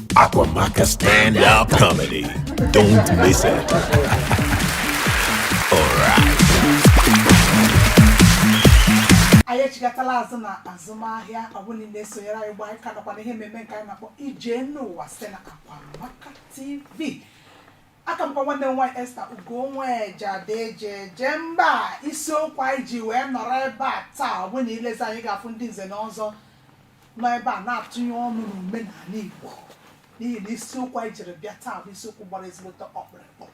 Akwamaka Stand Up Comedy. Don't miss it. All right. anyị echighatala azụ na azụmahịa ọ bụ na ị na-esonyere anyị ugbu a ị ka nọkwa na ihe mmemme nke anyị na-akpọ ije n'ụwa site na Akwamaka TV aka m bụkwa nwanne unu nwaanyị Esther Ugo Nweje ada eji eje mba isiokwu anyị ji wee nọrọ ebe a taa ọ bụ na i lezie anya ị ga-afụ ndị nze na ọzọ nọ ebe a na-atụnye ọnụ n'omenala Igbo n'ihi na isiokwu anyị jiri bịa taa bụ isiokwu gbara ezigbote ọkpụrụkpụ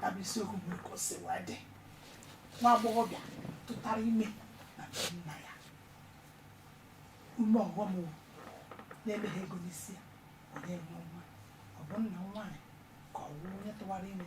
ya bụ isiokwu bụ ka o si wee dị nwa agbọghọbịa tụtara ime na be nna ya ime ọghọm wụ na-emeghị ego n'isi ya onye nwe nwa ọ bụ nna nwaanyị ka ọ wụ onye tụwara ime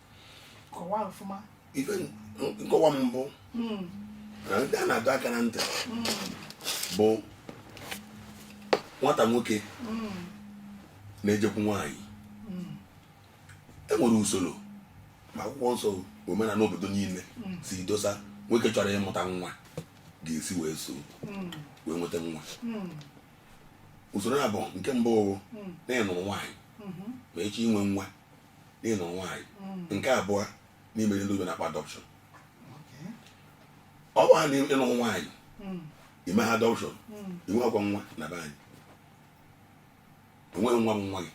ife nkọwa m bụ hmm. na ndị a na-adọ aka na ntị hmm. bụ nwata nwoke hmm. na-ejekwu nwaanyị e nwere usoro ma akwụkwọ nsọ omenala obodo niile si dosa nwoke chọrọ ịmụta nwa ga-esi wee so wee nweta nwa usoro ya bụ nke mbụ na ị nụrụ nwaanyị ma ị chọ inwe nwa n'ịnụ nwaanyị mm. nke abụọ n'ime ndị oyibo na-akpọ adoption ọ bụ ha na ịnụ nwaanyị mm. ime ha adoption mm. inwe oke nwa na be anyị inweghị nwa bụ nwa gị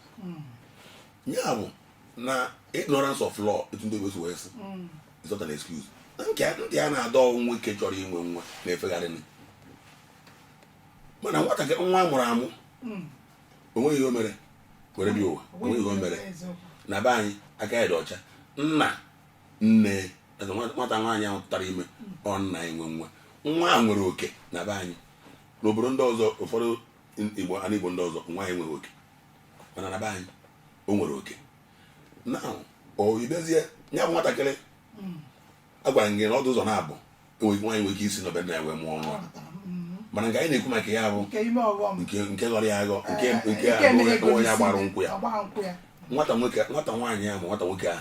ya bụ na ignorance of law etu ndị oyibo si wee sị is not an excuse nke ndị a na-adọ nwa ike chọrọ inwe nwa na-efegharị mana nwatakịrị nwa a mụrụ amụ onweghị ihe o mere were bịa ụwa onweghị ihe o mere na be anyị aka ya dị ọcha nna nne nwata nwaanyị ahụ tụtara ime ọ nna ya nwe nwa nwa a nwere oke na be anyị n'obodo ndị ọzọ ụfọdụ igbo ana igbo ndị ọzọ nwa a nwere oke mana na be anyị o nwere oke na ọ ịbịazie ya bụ nwatakịrị agwara gị na ọ dị ụzọ naabọ enweghị nwaanyị nwere ike isi na be nna ya wee mụọ nwa mana nke anyị na-ekwu maka ya bụ nke ime ọghọm nke nke ghọrọ ya aghọ nke nke nke a bụ emeghe onye agbara gosi nkwụ ya agbara nkwụ ya nwata nwoke nwata nwaanyị ya ma nwata nwoke a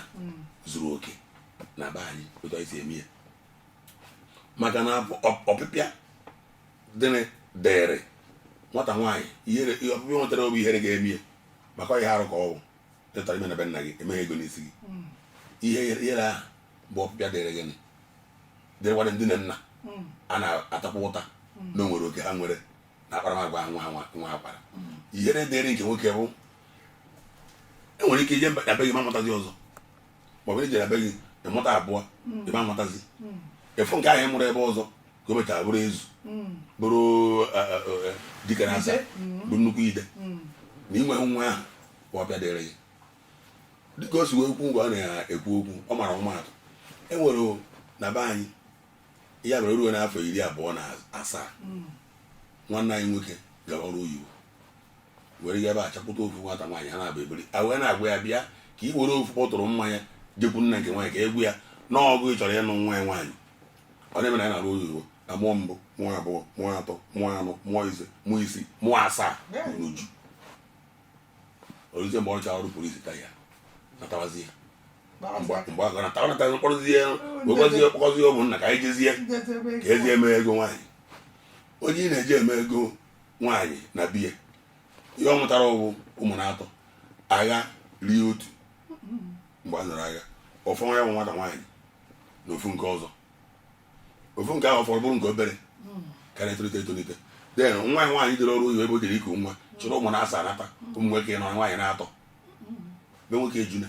zuru oke na be anyị otu anyị si eme ya maka na ọ- ọ- ọpịpịa dịrị dịrị nwata nwaanyị ihere ihe ọpịpịa nwetara ọ bụ ihere ga-eme ya maka ọ ihe arụ ka ọ bụ ịtụrụ ime na be nna gị emeghị ego n'isi gị ihe ihere ahụ mgbe ọpịpịa dịrị gị dịrịkwara ndị nne na nna hmm. a na-atakwa ụta hmm. na onwere oke ha nwere na akparamagwa nwa ha nwa akwara hmm. ihere dịrị nke nwoke bụ inwere ike ije na be gị ịma mụtazi ọzọ maọbụ ije na be gị ịmụta abụọ ịma mụtazi ofu nke ahụ ịmụrụ ebe ọzọ ka o mechara bụrụ eze bụrụ e, e, e, dike na asa bụ nnukwu ide na inwe nwa ahụ ọpịpịa dịrị gị dịka o si wee kwu mgbe ọ na-ekwu okwu ọ mara ọmaatụ e nwere na be anyị ya mere ruo n'afọ iri abụọ na asaa hmm. nwanne anyị nwoke gara ọrụ oyibo were ya ebe a chọpụta ofu nwata nwaanyị ha naabọ ebiri a wee na-agwa ya bịa ka ị were ofu bọtụrụ mmanya jekwu nna nke nwaanyị ka ị gwa ya na ọ gị chọrọ ịnụ nwa ya nwaanyị ọ na-eme na ya na-arụ oyibo na mụọ mbụ mụọ abụọ mụọ atọ mụọ anọ mụọ ise mụọ isii mụọ asaa n'uju oruzie mgbe ọ rụchara ọrụ police retire natawazie mgbe mgbe ahụ nata ọ natazi mkpọrọzie wegwazie kpọkọzie ụmụnna ka anyị jezie ka ejezie mee ego nwaanyị onye ị na-eje ime ego nwaanyị na be ya ihe ọ mụtara ọ bụ ụmụ na atọ agha rie otu mgbe a nụrụ agha ọ fọ nwa ya bụ nwata nwaanyị na ofu nke ọzọ ofu nke ahụ fọrọ bụrụ nke obere karịa etolite etolite den nwa ya nwaanyị dịrị ọrụ oyibo ebe o jere iku nwa chịrị ụmụ na asaa nata ụmụ nwoke anọ nwaanyị na atọ be nwoke ejuna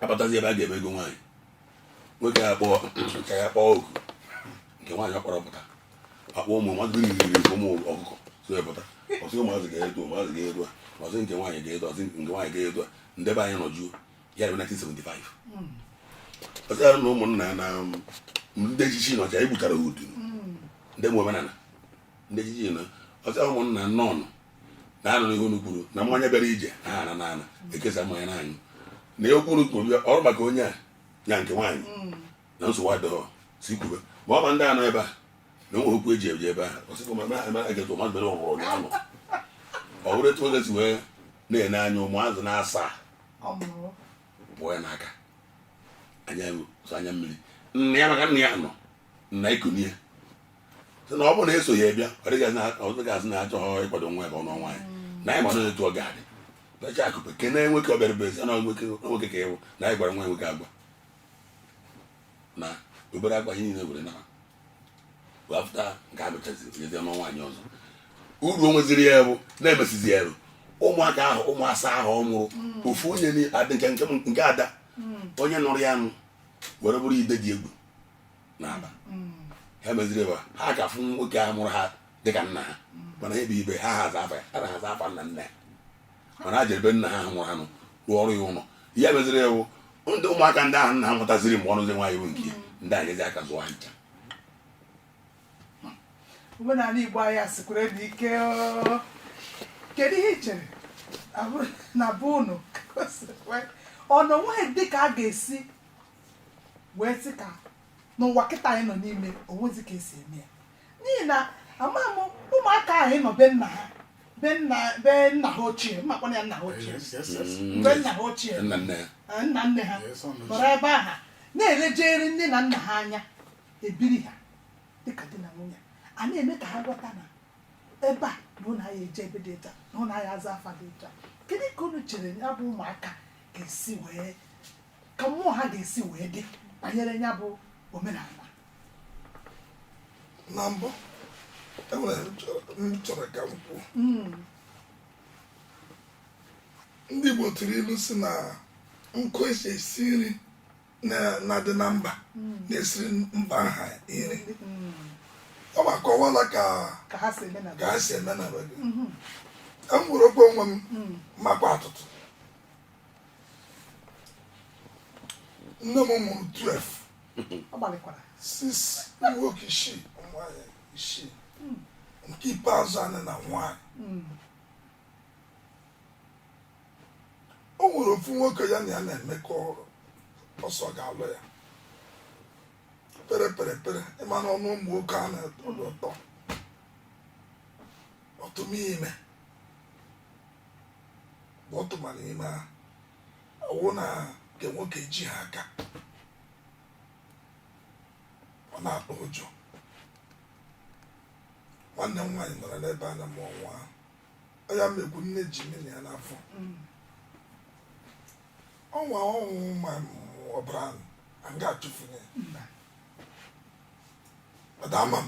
abatazi ebe a ga-eme ego nwaanyị nwoke ya kpọọ nke ya kpọọ oku nke nwaanyị ọ kpọrọ pụta akpọ ụmụ mmadụ riri ụmụ ọkụkọ so pụta ọ sị ụmụazị ga-eto ụmụazị ga-eto a ọ sị nke nwaanyị ga-eto ọ sị nke nwaanyị ga-eto a ndị be anyị nọ jụụ ya bụ 1975 ọ sị na ụmụnna na um, ndị echichi na ọcha egbutara udu ndị nwe omenala ndị echichi na ọtara ụmụnna nọn na anụ ihe unu kwuru na mmanya bịara ije na ha na na ana ekesa mmanya na anyụ na ihe okwu unu kwuru bịa ọrụ maka onye a ya nke nwaanyị na nsogbu adịghọ si kwube ma ọ ma ndị anọ ebe a na o nwe okwu eji eje ebe ahụ ọ sịkwa ma ma ma egetụ mmadụ mere ọgwụrụ ụnyaahụ ọ bụrụ etu oge si wee na-ene anya ụmụazị na asaa kpụọ ya n'aka anya so anya mmiri nna ya maka nna ya nọ nna ya kunie sị na ọ bụrụ na eso ya bịa ọ dịghị azụ na achọghọ ịkwado nwa ebe ọ nụ nwaanyị na anyị mara etu ọ ga-adị becha akụpe kene nwoke ọ bịara bụ ezi na nwoke ka ịwụ na anyị gwara nwa nwoke agwa na o bere akwa ihe niile were naba after nke a gụchaziri nyezi ọ nụ nwaanyị ọzọ uru o nweziri ya bụ na-emesizi ya ụmụaka ahụ ụmụ asaa ahụ ọ mụrụ mm. ofu onye nke ada mm. onye nụrụ ya anụ were bụrụ ide dị egwu n'Aba mm. ha meziri ebe ha ka fụ nwoke a mụrụ ha dịka nna ha mana ha ebe ibe ha ha aza afa ya ha na-aza afa nna nna ya mana a ebe nna ha ha nwụrụ anụ rụọrọ ya ụlọ ya meziri ewu ndị ụmụaka ndị ahụ nna ha mụtaziri mgbe ọ nụzi nwaanyị bụ nke ndị a nyezi aka zụọ ha ncha omenala Igbo anyị a sikwaranụ ike kedu ihe i chere na bụ unu o nweghị dị ka a ga-esi wee sị ka n'ụwa kịta anyị nọ n'ime o nwezi ka e si eme ya n'ihi na amaghị m ụmụaka ahụ ịnọ be nna ha be nna be nna ha ochie m makwa na ya nna ha ochie Yes, yes, yes. Mm. mgbe nna ha ochie nna nne ya eh, nna nne ha Yes, ọ nọ nọrọ ebe ahụ na-elejere nne na nna ha anya ebiri ha dịka di na nwunye a na-eme ka ha ghọta na ebe a bụ ụlọ anyị eje ebe dị iche na ụlọ anyị aza afa dị iche kedu ka unu chere ya bụ ụmụaka ga-esi wee ka mmụọ ha ga-esi wee dị banyere ya bụ omenala na mbụ e nwere ihe m chọrọ ka m kwuo hmm. ndị Igbo tụrụ ilu sị na nkụ e si esi nri na-adị na mba hmm. na-esiri mba ha nri hmm. ọ ma kọwala ka ha si eme na be gị e nwere okwu onwe m makwa atụtụ nne m mụrụ 12 ọ gbalịkwara sis ụmụ nwoke isii ụmụ nwaanyị isii nke ikpeazụ anyị na nwaanyị o nwere ofu nwoke ya na ya na-emekọ ọ sị ọ ga-alụ ya pere pere pere ị ma na ọnụ ụmụ nwoke a na-atọ ụtọ ọ tụba ime bọtụma n'ime ha ọ wụ na nke nwoke ejighị aka ọ na-atụ ụjọ nwanne m nwaanyị nọrọ n'ebe a na mụọ nwa ahụ ọ ya-eme gịnị e ji mmiri ya n'afọ ọnwa ọ wụ ma ọbara ahụ a ga-achụfunye ya. Ọ dị ama m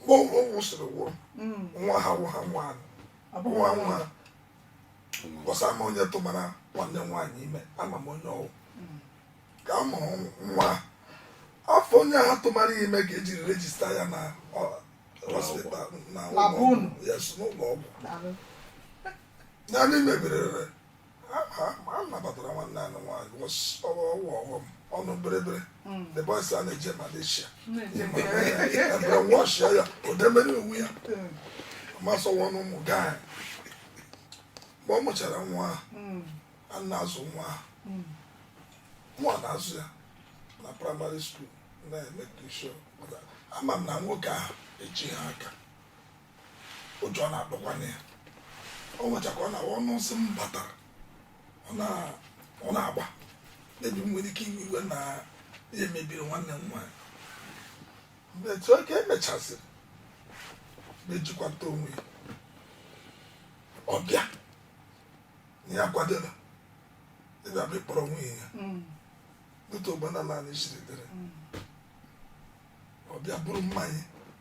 mgbe ọgwụ ọgwụ soro gwụrụ mm. nwa ha wụ ha nwa nwa nwa bọsa ama onye tụbara nwanne nwaanyị ime ama m onye ọ wụ mm. ka a mụrụ nwa afa onye ahụ tụbara ime ka e ji rejista ya na hospital na ụlọ ọgwụ naanị mebirere a nabatara nwanne anyị nwaanyị ọghọm ọnụ bịrịbịrị hmm. the boys a na-eje Malaysia ebere wọshịa ya odemere onwe ya hmm. masọwa n'ụmụ gaa mgbe ọ mụchara nwa hmm. a na-azụ nwa nwa na-azụ ya na praịmarị skuul na-eme tushon ama m na nwoke ahụ ejighị aka ụjọ na-atụkwanye ya ọ nwecha ka ọ na ọnụ nsị m batara ọ na-agba mebi nwere ike iwe iwe na ya mebiri nwanne m nwaanyị mgbe etu oge emechaziri mejikwata onwe ya ọ bịa na ya kwadoro ịbịa bụ ịkpọrọ nwunye ya mm. otu omenala anyị siri dịrị mm. ọ bịa buru mmanya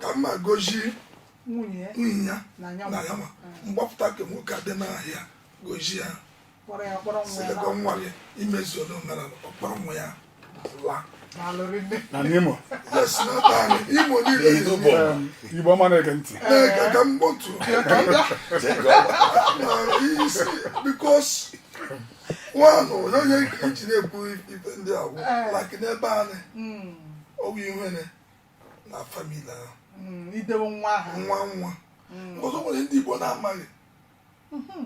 ka mma gosi nwunye ya na ya nwa mgbapụta nke nwoke adị n'ahịa gosi ha sị lekwa nwa gị imezu ole omenala ọ kpọrọ nwa ya laa na n'imo imo niile igbo ọma na-ege ntị ka m kpọtụ isi bikos nwanụ onye iji na-ekwu ife ndị a wụ like n'ebe anyị ọ wụ ihe ene na famili ahụ Mm, idewe nwa aha nwa nwa Mm. ọzọ nwere ndị igbo na-amaghị Mhm.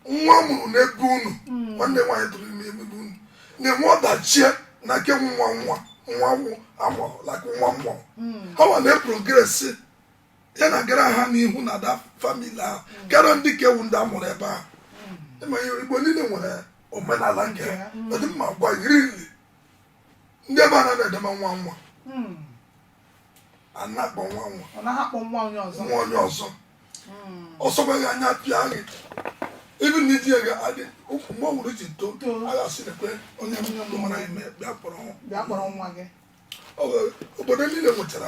nwa a mụrụ n'ebe unu Mm. nwanne nwaanyị tụrụ ime ebe unu na-enwe ọdachi na nke nwa nwa nwa wụ a mụrụ like nwa nwa Mm. ha nwa na-eprogresi ya na-agara ha n'ihu na da famili ahụ karịa ndị nke wụ ndị a mụrụ ebe ahụ ịma ihe igbo niile nwere omenala nke ha ọ dị mma gwa yiri nri ndị ebe a na na-edema nwa nwa Hmm. a na-akpọ nwa nwa a naghị akpọ nwa onye ọzọ nwa onye ọzọ Hmm. ọ sọkwa gị anya pịa gị ibi na i ji ego adị ukwu mgbe ọ gwụrụ ji too Too. a ga-asị na ekwe onye mmadụ mara ime bịa kpọrọ nwa bịa kpọrọ nwa gị Ọ bụ- obodo niile nwechara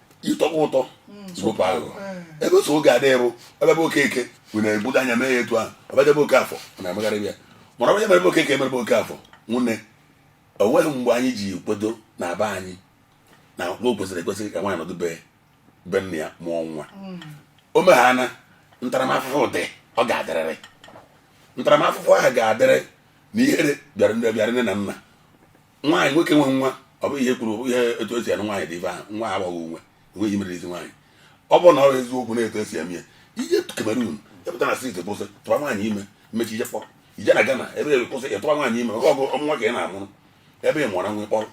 ịtọkwa ụtọ sopa ahụ ebe so oge adịghị bụ ebe bụ Okeke bụ na-ebudo anya mee ya etu ahụ ọ bata ebe Okafọ ọ na-emegharị ya mana onye mere Okeke e mere Okafọ nwunne o nweghị mgbe anyị ji kwedo na be anyị na o kwesịrị ekwesị ka nwaanyị nọdụ be be nna ya mụọ nwa o meghana ntaramahụhụ dị ọ ga-adịrịrị ntaramahụhụ ahụ ga-adịrị na ihere bịara ndị bịara nne na nna nwaanyị nwoke nwe nwa ọ bụghị ihe e kwuru ihe etu e si anụ nwaanyị dị ife ahụ nwa agbaghị onwe enweghị mere isi nwaanyị ọ bụrụ na ọ eziokwu na etu e si eme ya i je Cameroon epụta na steeti kwụsị tụwa nwaanyị ime mechaa i je kpọrọ i je na Ghana ebe e kwụsị ịtụwa nwaanyị ime oge ọgụ ọ mụ nwa ka ị na-amụrụ ebe ị mụọra nwa kpọrọ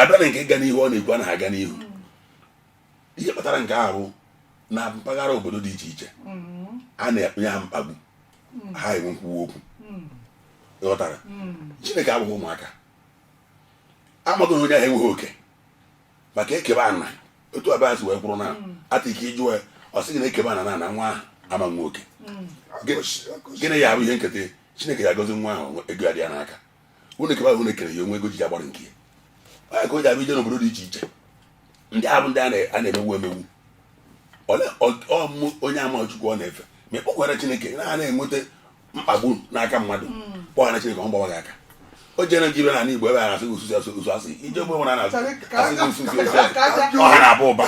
abịa na nke ịga n'ihu ọ na-ekwu anaghị aga n'ihu ihe kpatara nke a bụ na mpaghara obodo dị iche iche a na-enye ha mkpagbu ha enwe nkwuwa okwu ị ghọtara Chineke abụghị ụmụaka amaghị onye ahụ enweghị oke maka e kebe ana otu abịa si wee kwụrụ na ata ike ị jụ ya ọ sị gị na e kebe ana na ana nwa ahụ ama nwe oke gịnị ya bụ ihe nketa Chineke ya-agọzi nwa ahụ ego ya dị ya n'aka unu kebe unu kere ya o nwe ego ji agbara nke ya ka o ji abịa i je n'obodo dị iche iche ndị ahụ ndị a na-emegbu emegbu ọmụ onye ama Chukwu ọ na-efe ma ị kpọkwara Chineke na a na-enweta mkpagbu n'aka mmadụ mm. kpọghara Chineke ọ gbawa gị aka o jere gị ibe n'ala Igbo ebe a na-asị gị osu sị asụ osu asị i je ogbe nwere na-asị gị osu sị osu asị ọha na-abụ ụba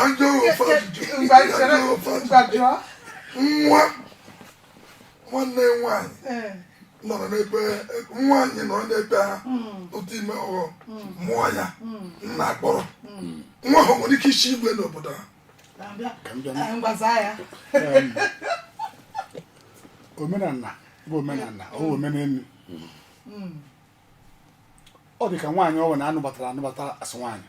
nwa nwanne nwaanyị eh. nọrọ n'ebe nwaanyị nọrọ n'ebe ha ọ tụọ ime ọghọm mụọ ya nna akpọrọ nwa ahụ nwere ka e si eme n'obodo ha omenala bụ omenala ọ bụ omenelu ọ dị ka nwaanyị ọ wụ na a nụbatara anụbata a sị nwaanyị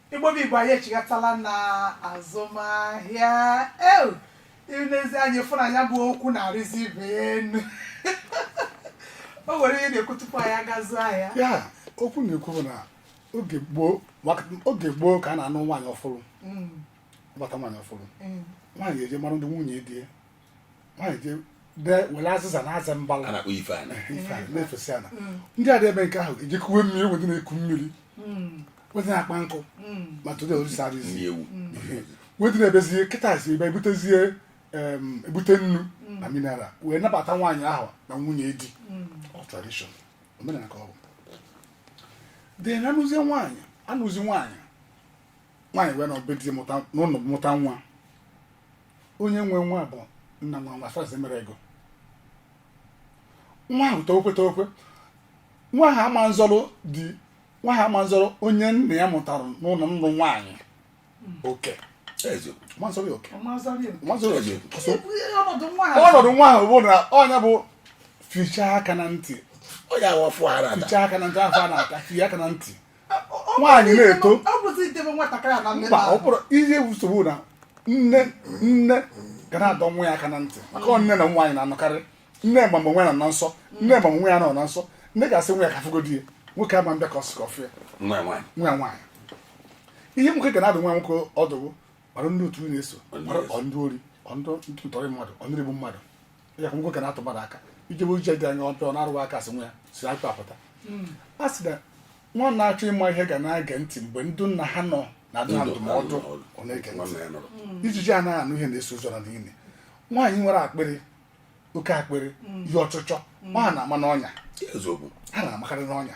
igbo bụ igbo anyị echighatala na azụmahịa ee i lezie anya ị fụ na ya bụ okwu na-arịzi ibe enu o nwere ihe ị na-ekwu tupu anyị aga azụ ahịa a okwu na-ekwu bụ na oge gboo maka- oge gboo ka a na-anụ nwaanyị ọfụrụ Mm, gbata nwaanyị ọfụrụ mm. nwaanyị eje mara ndị nwunye di ya were azịza na-aza mbala na-akpọ ife ana na-efesi ana mm. ndị a na-eme nke ahụ eji kuwe mmiri wee dị na-eku mmiri mm. wee dị na-akpa nkụ mm. ma today orisa arụzi wee dị na-ebezie kịta si ebe ebutezie ebute nnu na mineral wee nabata nwaanyị ahụ na nwunye di of tradition omenala ka ọ bụ dị na a nụzie nwaanyị anụzi nwaanyị nwaanyị wee naa be di mụta n'ụlọ mụta nwa onye nwe nwa bụ nna nwa nwa fazi mere ego nwa ahụ tokwe tokwe nwa ahụ ama nzọrọ di nwa ahụ ama nzọrọ onye nne ya mụtara n'ụlọ nnụ nwaanyị oke eziokwu ma nzọrọ ya oke ma nzọrọ ya oke eziokwu ọsọ ọnọdụ nwa ahụ ọnọdụ nwa ahụ bụ na ọ na-abụ e fichaa aka na ntị ọ ya awa fụ ara ada fichaa aka na ntị afọ a na-ata fie aka na ntị nwaanyị na-eto mba ọ bụrụ ihe nsogbu na nne nne ga na-adọ nwa ya aka na ntị maka nne na nwaanyị na-anọkarị nne ma mgbe nwa ya nọ na nsọ nne ma nwa ya nọ na nsọ nne ga-asị nwa ya ka m fụgodi ya nwoke ama mbịa ka ọ sị ka ọ fụ ya nwa nwaanyị ihe nwoke ga na-adụ nwa nwoke ọdụ bụ maru ndị otu ị na-eso ọ bụrụ ndị ori ọ bụrụ ndị ntọrị mmadụ ọ bụrụ ndị ogbu mmadụ ya ka nwoke na-atụ mmadụ aka ijebe uche dị anya ọtọ na-arụwa aka sị nwa ya si atụ apụta a sị na nwa na-achọ ịma ihe ga na-ege ntị mgbe ndị nna ha nọ na-adụ ha ndụmọdụ ọ na-ege ntị nwanne ya nọrọ ijiji ana anụ ihe na-eso ozu ana n'ini nwaanyị nwere akpịrị oke akpịrị ihe ọchịchọ ọ ha na-ama n'ọnya eziokwu ha na-amakarị n'ọnya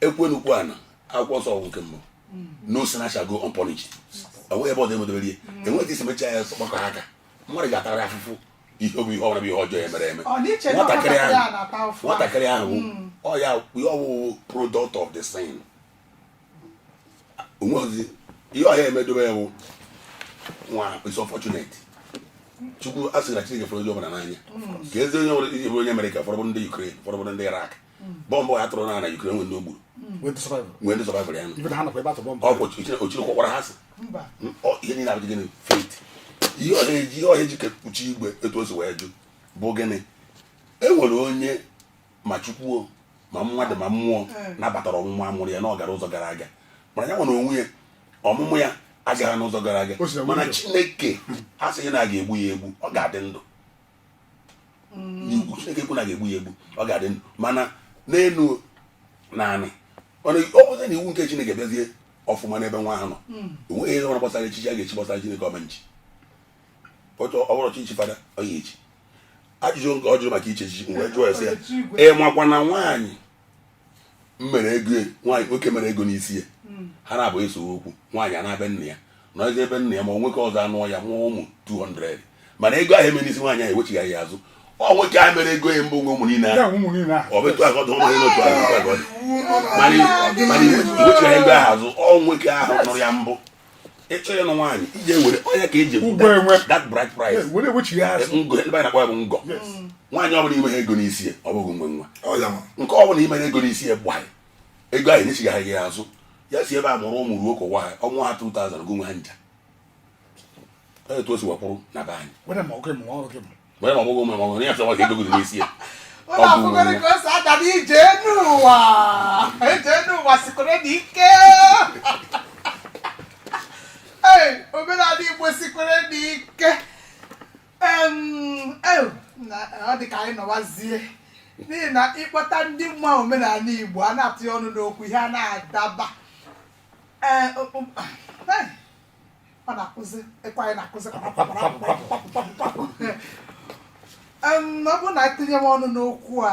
ekwenukwu ya n'akwụkwọ nsọ ọgwụ nke mmụọ no sinner shall go unpunished enweghị ebe ọzọ emedobere ihe enweghị i si mechaa ya gbakọ aka mmadụ ga-atara afụfụ ihe ọ bụ ihe ọbụla bụ ihe ọjọọ ya mere eme nwatakịrị ahụ nwatakịrị ahụ hmm. ọ ya ihe ọ wụ wụ product of the sin o nweghịzi ihe ọ ya-emedobe ya bụ nwa is unfortunate chukwu a sị na chineke fụrụ onye ọbụla n'anya ka ezi onye nwere ihe onye America fọrọ ndị Ukraine fọrọ ndị Iraq bọmbụ a tụrụ na Ukraine nwe ndị o gburu nwe ndị survive-rụ ya ọ ochiri kwọkwara ha sị ihe niile a bụ gịnị fate ihe ọha eji ihe ọha eji kpuchi igwe etu o si wee jụ bụ gịnị e nwere onye ma chukwuo ma mmadụ ma mmụọ eh. nabatara ọmụmụ a mụrụ ya na ọ gara ụzọ gara aga mana ya nwere onwe ya ọmụmụ ya agaghị n'ụzọ gara aga mana chineke asịghị na a ga-egbu ya egbu ọ ga-adị ndụ n'ugwu mm. chineke ekwu na a ga-egbu ya egbu ọ ga-adị ndụ mana n'elu na anị mana ọ bụzi na iwu nke chineke bịazie ọfụma n'ebe nwa ahụ nọ mm. enweghị ihe ọbụla gbasara echichi a ga-echi gbasara chineke ọ ma-echi ọ bụrụ echichi fada ọ ya-echi ajụjụ nke ọ jụrụ maka ichi echichi m wee jụọ ya sị ya ị makwa na nwaanyị m mere ego nwaanyị nwoke mere ego n'isi ya hmm. ha naabọ esee okwu nwaanyị anaa be nna ya nọzie be nna ya ma nwoke ọzọ anụọ ya mụọ ụmụ 200 mana ego ahụ e mere n'isi nwaanyị ahụ e wechighị ya azụ ọ nwoke ahụ mere ego ya mbụ nwe ụmụ niile ahụ ọ bụ etu a ka ọ dị ụmụ otu ahụ mana i wechighị ego ahụ azụ ọ nwoke ahụ nụrụ ya mbụ ị chọọ ịnụ nwaanyị ihe e ji ewere ọ ya ka e ji that bride price eh, ngọ ndị anyị na-akpọ ya bụ ngọ nwaanyị ọbụla i meha ego n'isi ọ bụghị ngị nwe nwa nke ọbụla i mere ego n'isi ya gbaghị ego anyị nyechigaghị ya azụ ya si ebe a mụrụ ụmụ ruo ka ụwa ha ọ mụọ ha 2000 gụ nwe ha nja etu o si wee kwụrụ na be anyị wee ma ọmụgwọ mụrụ ọhụrụ ya fịawa ka edogodo n'isi ya ụlọ a fụgoro ka o si aga n'ije n'ụwa ije n'ụwa sikoro na ike ee omenala igbo sikoro na ike Em, ew, na- ọ dị ka anyị nọwazie n'ihi na ịkpọta ndị ma omenala igbo ha na-atụnye ọnụ n'okwu ihe a na-adaba Ee, o- o- eh, ọ na-akụzi ịkwa anyị na-akụzi ọ bụrụ na etinye m ọnụ n'okwu a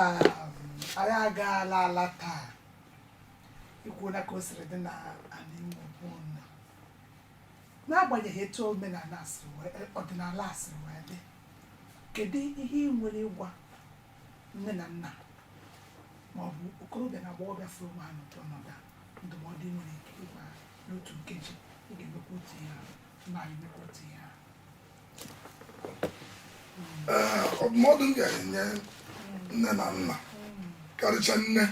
anyị a ga-ala ala taa i kwuola ka o siri dị n'ala Igbo gboo na n'agbanyeghị etu omenala si wee ọdịnala siri wee dị kedu ihe i nwere ịgwa nne na nna ma ọ bụ okorobịa na agbọghọbịa fụrụ onwe ha n'ụdị ọnọdụ a ndụmọdụ i nwere ike ịgwa ha n'otu nkeji i ga-emekwa otu ihe ahụ mba anyị emekwa otu ihe ahụ ọdụmọdụ m ga-enye nne na nna karịcha nne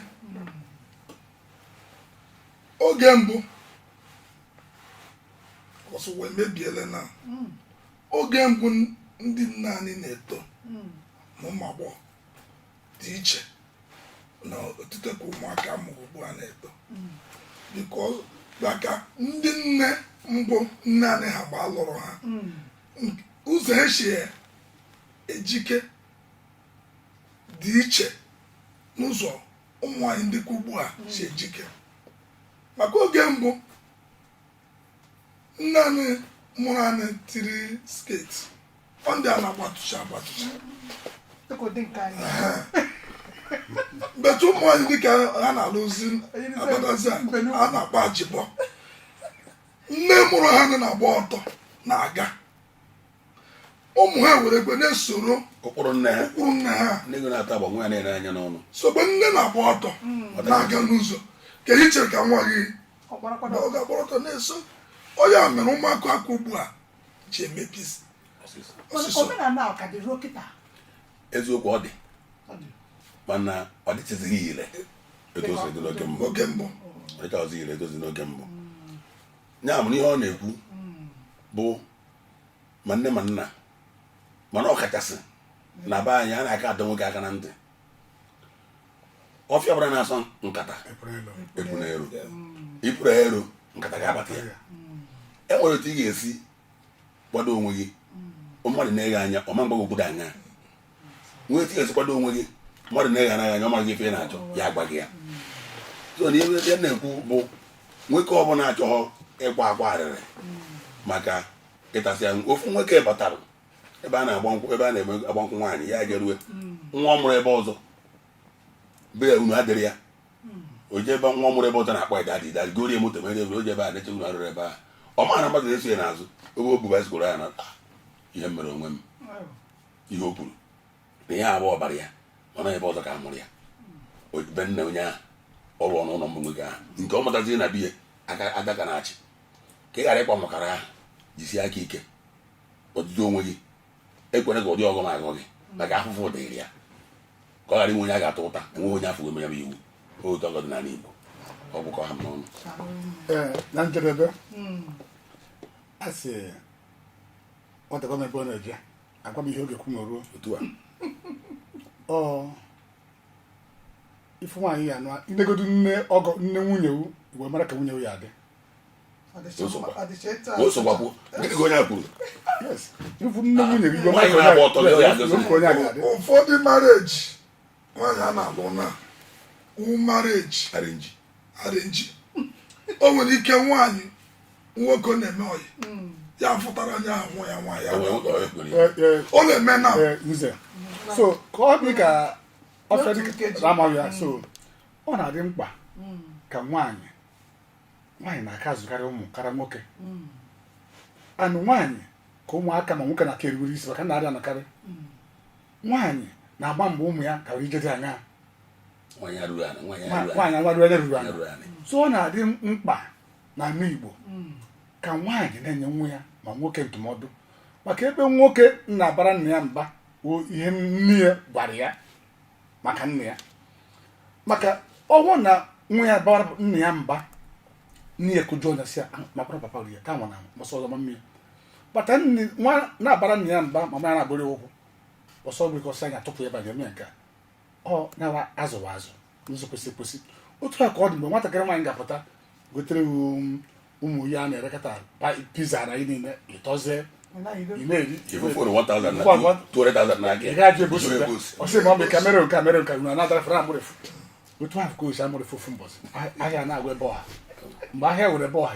oge mbụ ọ sị ụwa emebiele na oge mbụ ndị nne anyị na-eto n'ụmụ agbọghọ dị iche n'otito nke ụmụaka a mụrụ ugbu a na-eto because maka ndị nne mbụ nna anyị ha gba lụrụ ha Nk- ụzọ e si ejike dị iche n'ụzọ ụmụ nwaanyị ndị nke ugbu a si ejike maka oge mbụ nne anyị mụrụ anyị tiri sketi ọ ndị a na-agbatụcha agbatụcha but ụmụ nwaanyị ndị nke a na-alụzi abatazi a a na-akpọ ajibọ nne mụrụ ha nọ na-agba ọtọ na-aga ụmụ ha were ekwe na-esoro ụkpụrụ nne ha ụkpụrụ nna ha nne eghu na-ata agba nwa ya na-ele anya n'ọnụ sogbe nne na-agba ọtọ na-aga n'ụzọ kee ihe i chere ka nwa gị Ọ kpọrọkwa na ọ ga-agbara ọtọ na-eso ọ ya mere ụmụaka aka ugbu a ji emebi isi. ọsịsọ omenala a ka dị ruo kịta eziokwu ọ dị Ọ dị. mana ọ dịtụzighị ire etu o si dị n'oge mbụ oge mbụ ọ dịchaghịzi ire etu o si dị n'oge mbụ ya mụrụ ihe ọ na-ekwu bụ ma nne ma nna mana ọkachasị na be anyị a na-aka adọ nwoke aka na ntị ọfịa ọbụla na-asọ nkata epuna ero i puru ero nkata ga-abata ya e nwere otu ị ga-esi kwado onwe gị mmadụ nee gị anya ọ ma mgbago obodo anya nwee etu ị ya-esi kwado onwe gị mmadụ na-eghara ya anya ọ maghị ife ị na-achọ ya agwa gị ya so na ihe ya na-ekwu bụ nwoke ọbụla achọghọ ịkwa akwa arịrị maka ịtasị ya ofu nwoke batara ebe a na-agba nkwụ ebe a na-eme agba nkwụ nwaanyị ya jerue nwa ọ mụrụ ebe ọzọ be ya unu adịrị ya o jee ebe nwa ọ mụrụ ebe ọzọ na-akpa ịda dị dadi gorie moto mere ebe o ji ebe a na-eche unu arụrụ ebe a ọ mara mmadụ na-eso ya n'azụ ebe o buba sikoro ya na "Ah, ihe m mere onwe m ihe o kwuru na ya bụ ọbara ya mana ebe ọzọ ka a mụrụ ya be nna onye ahụ ọrụ ọnụ ụlọ mbụ nwoke ahụ nke ọ mụtaziri na be ya ada ka na-achị ka ị ghara ịkwa mmakwara ahụ jisie aka ike ọdịdị onwe gị ekwena ka ụdị ọghọm a ghọọ gị maka afụfụ dịrị ya ka ọ ghara inwe onye a ga-atụ ụta enweghị onye afọ emere iwu otu ọgọ dị n'ala Igbo ọ bụkọ ha n'ọnụ na njedebe hmm. a sị nwata gwa m ebe ọ na-eje agwa m ihe oge kụ ma ruo otu a ọ ị fụ nwaanyị ị ya-anụ i negodu nne ọgọ nne nwunye gị wee mara ka nwunye gị ya-adị osogbakwuo gịnị ka onye a kwuru yes ị fụ nne nwunye gị wee mara Nwaanyị ka na-agba ọtọ, onye a- ya adị. wee mara ka onye a ga-adị ụfọdụ marriage nwaanyị a na-alụ na marriage arrange arrange o nwere ike nwaanyị nwoke ọ na-eme ọyị ya fụtara onye ahụ nwa ya nwaanyị ahụ. ọ na-eme na Ee, nze so ka ọ dị ka ọfịa N'otu dịka nkeji. amaghị ya so ọ na-adị mkpa ka nwaanyị nwaanyị na-aka azụkarị ụmụ karịa nwoke and nwaanyị ka ụmụaka ma nwoke na-aka erubere isi maka nna adị anọkarị nwaanyị na-agba mbọ ụmụ ya kara ije dị anya nwaanyị arụrụ anị nwaanyị arụrụ anị nwaanyị nwarụ anya ruru anya arụrụ anị so ọ na-adị mkpa na ala Igbo ka nwaanyị na-enye nwa ya ma nwoke ndụmọdụ maka ebe nwoke na-abara nna ya mba ọ ihe nne ya gwara ya maka nna ya maka ọ wụ na nwa ya bara nna ya mba nne ya kụjọ ọnụ sị ya "Ah, makwara papa ri ya ka nwa na mọsọ ọzọ ma mmiri kpata nne nwa na-abara nna ya mba ma ma ya na-abụrụ ya ụkwụ ọsọ nwere ike ọsọ anya tupu ebe a ga-eme nke ọ nawa azụwa azụ n'ụzọ kwesị ekwesị otu a ka ọ dị mgbe nwatakịrị nwaanyị ga-apụta gotere um, ụmụ ya na-erekọta piza na ihe niile ịtọzie kamera kamera nka na anadara fere amụrịfụ otu ahụ ka o si amụrịfụ ofu mbọsị ahịa na-agwa ebe ọha mgbe ahịa were ebe ọha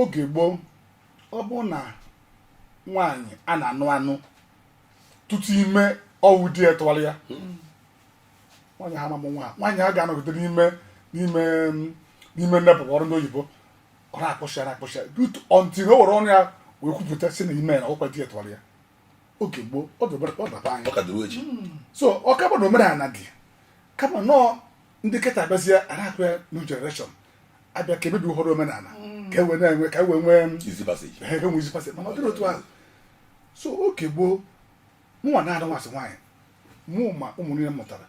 oge gboo ọ bụ na nwaanyị a na-anụ anụ tutu ime ọ wụ di ya tụwara ya nwaanyị ha mamụ nwa nwaanyị a ga-anọgide n'ime n'ime n'ime nnepụkwa ọrụ ndị oyibo ọ na-akpọchi ya na-akpọchi ya tutu until o were ọnụ ya wee kwupụta sị na ime na ọkwa di ya tụwara ya oge gboo ọ dọbara ọ dị be anyị ọ ka dịrị echi so ọ kaba na omenala dị kama na ọ ndị kịta abịazie a na-akụ ya new generation abịa ka e mebi ụfọdụ omenala mm. ka e wee na-enwe ka e wee nwee mm, easy pass mana ọ dịrị otu ahụ so oge gboo mụnwa na-anụ nwaasị nwaanyị mụ ma ụmụ niile mụtara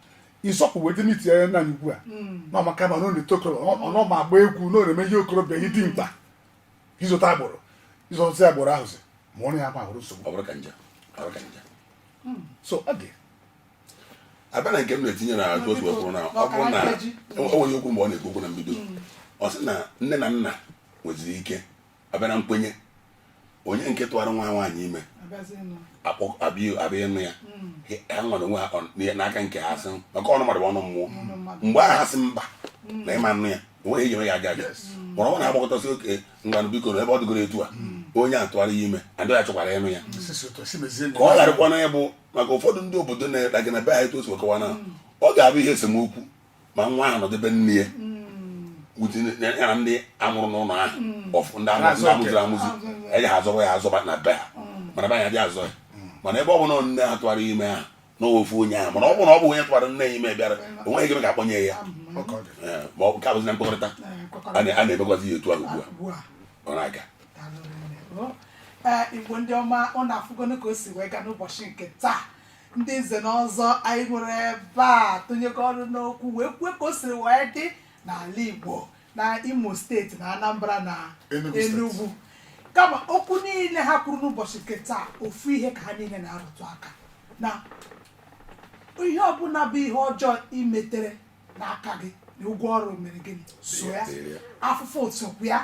ịsọpụ wee dịm itinye anya naanị ugbu a mm. na ọ maka mma na ọ na-eto okoro na ọ ma agba egwu na ọ na-eme ihe okorobịa ihe dị mkpa ịzụta agbụrụ ịzụta agbụrụ ahụzi ma ọ na ya ma ahụrụ nsogbu so ọ dị abịa na nke m na-etinye na ajụ otu e kwuru na ọ bụrụ na enweghị e okwu mgbe ọ na-ekwu okwu na mbido hmm. ọ sị na nne na nna nweziri ike abịa na nkwenye onye nke tụwara nwa nwaanyị ime abịa ịnụ ya hmm. ha nwere onwe ha n'aka nke ha sị maka ọnụ mmadụ ọnụ mmụọ mgbe ahụ ha sị mba hmm. na ị ma anụ ya o nweghị ihe e ji eme ya aga aga mụrụ ọ na-agbakọtasị okay ngwanụ biko na ebe ọ dịgoro etu a onye a tụwara ya ime adịghị achọkwara ịnụ ya ka ọ gharịkwa na ya bụ maka ụfọdụ ndị obodo na-ekpe gị na be anyị tosi kọwa na ọ ga-abụ ihe esemokwu ma nwa ahụ nọdụ be nne ya ya na ndị a mụrụ n'ụlọ ahụ ọfụ ndị amụziri amụziri amụzi eji ha azọba ya azọba na be ha mana be anyị adịghị azọ ya mana ebe ọ bụla nne ha tụwara ime ha na ofu onye ahụ mana ọ bụrụ na ọ bụ onye tụwara nne ya ime bịara o nweghị ike ka a kpọnye ya Ọkọ dị. Ee, ma ọ bụ nke abụzi na mkpakọrịta a na- a na-emekwazi ya etu ahụ ugbu a Ugbu a. ọ na-aga ee igbo ndị ọma ụnụ afụgonụ ka o si wee gaa n'ụbọchị nke taa ndị nze na ọzọ anyị nwere ebe a tụnyekọ ọnụ n'okwu wee kwue ka o siri wee dị n'ala igbo na imo steeti na anambra na enugwu kama okwu niile ha kwuru n'ụbọchị nke taa ofu ihe ka ha niile na-arụtụ aka na ihe ọbụla bụ ihe ọjọọ i metere n'aka gị na ụgwọ ọrụ mere gịnị so ya afụfụ sokwu ya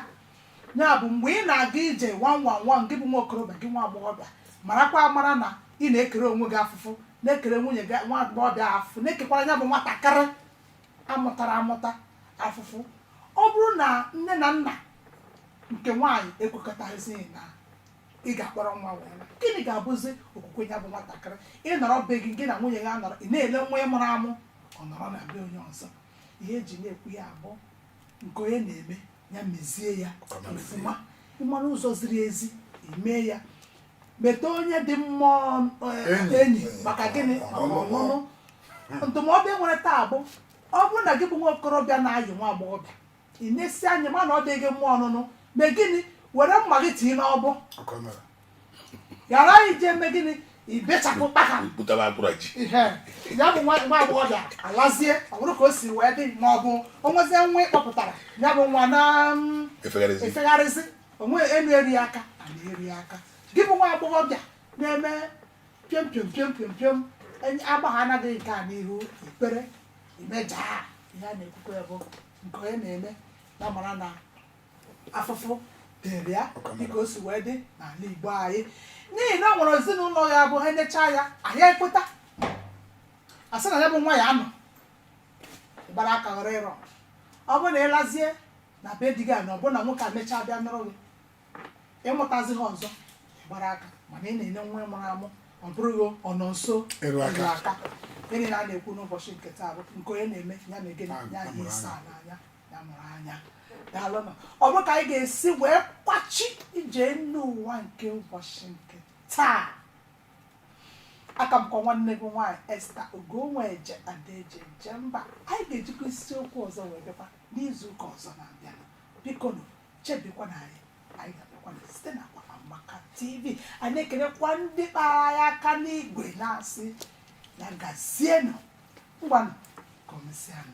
ya bụ mgbe ị na-aga ije wanwanwan gị bụ nwa okorobịa gị nwa agbọghọbịa marakwa amara na ị na-ekere onwe gị afụfụ na-ekere nwunye gị nwa agbọghọbịa afụfụ na-ekekwara ya bụ nwatakịrị a mụtara amụta afụfụ ọ bụrụ na nne na nna nke nwaanyị ekwekọtazighị na ị ga-akpọrọ nwa wee naa gịnị ga-abụzi okwu nke ya bụ nwatakịrị ị nọrọ be gị gị na nwunye gị anọrọ ị na-ele nwa ị mụrụ amụ ọ nọrọ na be onye ọzọ ihe e ji na-ekwu ya bụ nke onye na-eme ya mezie ya ọfụma ị mara ụzọ ziri ezi ime ya meta onye dị mma enyi maka gịnị maka ọnụnụ ndụmọdụ e nwere taa bụ ọ bụrụ na gị bụ nwa okorobịa na-ayị nwa agbọghọbịa i nesie anya ma na ọ dịghị mma ọnụnụ mee gịnị were mma gị tinye n'ọbọ ghara ije eme gịnị ibechapụ kpaka butaba akpụrụ ji ihe ya bụ nwa nwa agbọghọbịa alazie ọ bụrụ ka o si wee dị ma ọ bụ o nwezie nwa ị kpọpụtara ya bụ nwa na-efegharịzi efegharịzi onwe enu eru aka ana eru aka gị bụ nwa agbọghọbịa na-eme piom piom piom piom piom agbagha anaghị nke a n'ihu ikpere imejaa ihe a na-ekwukwa ya bụ nke onye na-eme ya mara na afụfụ dịrị ya dịka o si wee dị n'ala igbo anyị n'ihi na o nwere ezinụlọ ya bụ ha nechaa ya anya ekweta asị na ya bụ nwa ya anọ gbara aka ghọrọ ịrọ ọ bụrụ na ị lazie na be di gị a na ọ bụrụ na nwoke a mechaa bịa nụrụ gị ị mụtazighị ọzọ ị gbara aka mana ị na-ene nwa ị mụrụ amụ ọ bụrụ gị ọ nọ nso eru aka ihe a na-ekwu n'ụbọchị nke taa bụ nke onye na-eme ya mee gịnị ya hie asaa n'anya ya mụrụ anya daalụnụ ọ bụ ka anyị ga-esi wee kwachi ije enu ụwa nke ụbọchị nke taa aka m kwa nwanne gị nwaanyị esther ogonweje ada e ji eje mba anyị ga-ejikwa isiokwu ọzọ wee bịakwa n'izu ụka ọzọ na-abịa bikonụ chebekwanụ anyị anyị ga-abịakwa na site n'akwa amaka tv anyị na-ekelekwa ndị kpara ya aka n'igwe na-asị ya gazienụ ngwanụ ka o mesịanụ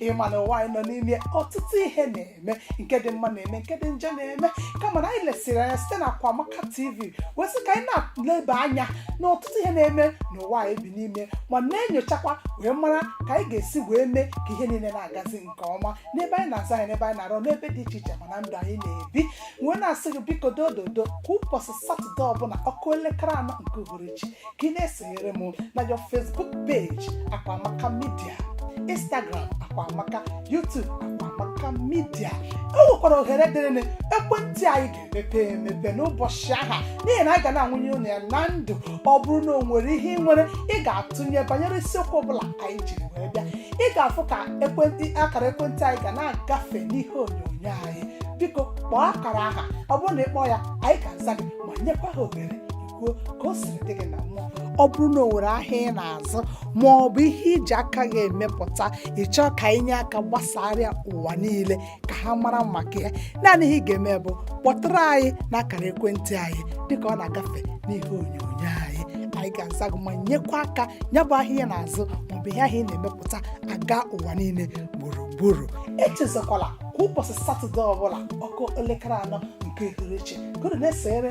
ị ma na ụwa anyị nọ n'ime ọtụtụ ihe na-eme nke dị mma na-eme nke dị njọ na-eme kama na anyị lesịrị anya site na Akwamaka TV wee sị ka anyị na-eleba anya na ọtụtụ ihe na-eme n'ụwa anyị bi n'ime ma na-enyochakwa wee mara ka anyị ga-esi wee mee ka ihe niile na-agazi nke ọma n'ebe anyị na-aza anyị n'ebe anyị na-arụ n'ebe dị iche iche ma na ndụ anyị na-ebi wee na-asị gị biko dododo kwa ụbọchị satọde ọbụla ọ kụọ elekere anọ nke uhuruchi ka ị na-esonyere m na your Facebook page Akwamaka Media Instagram Akwamaka YouTube Akwamaka Media o nwekwara ohere dịrịnị ekwentị anyị ga-emepe emepe n'ụbọchị aha n'ihi na anyị ga na-anwụnye ụnụ ya na ndụ ọ bụrụ na o nwere ihe ị nwere ị ga-atụnye banyere isiokwu ọbụla anyị jiri wee bịa ị ga-afụ ka ekwentị akara ekwentị anyị ga na-agafe n'ihe onyonyo anyị biko kpọọ akara aha ọ bụrụ na ị kpọọ ya anyị ga-aza gị ma nyekwa gị ohere kwuo ka o siri dị gị na mmụọ ọ bụrụ na o nwere ahịa ị na-azụ ma ọ bụ ihe i ji aka gị emepụta ị chọọ ka anyị nye aka gbasaara ụwa niile ka ha mara maka ya naanị ihe ị ga-eme bụ kpọtụrụ anyị n'akara ekwentị anyị dịka ọ na-agafe n'ihe onyonyo anyị anyị ga-aza gị ma nyekwa aka ya bụ ahịa ị na-azụ ma ọ bụ ihe ahụ ị na-emepụta aga ụwa niile gburugburu echezakwala kwa ụbọchị satọde ọbụla ọ kụọ elekere anọ nke uhuruchi gụrụ na-esere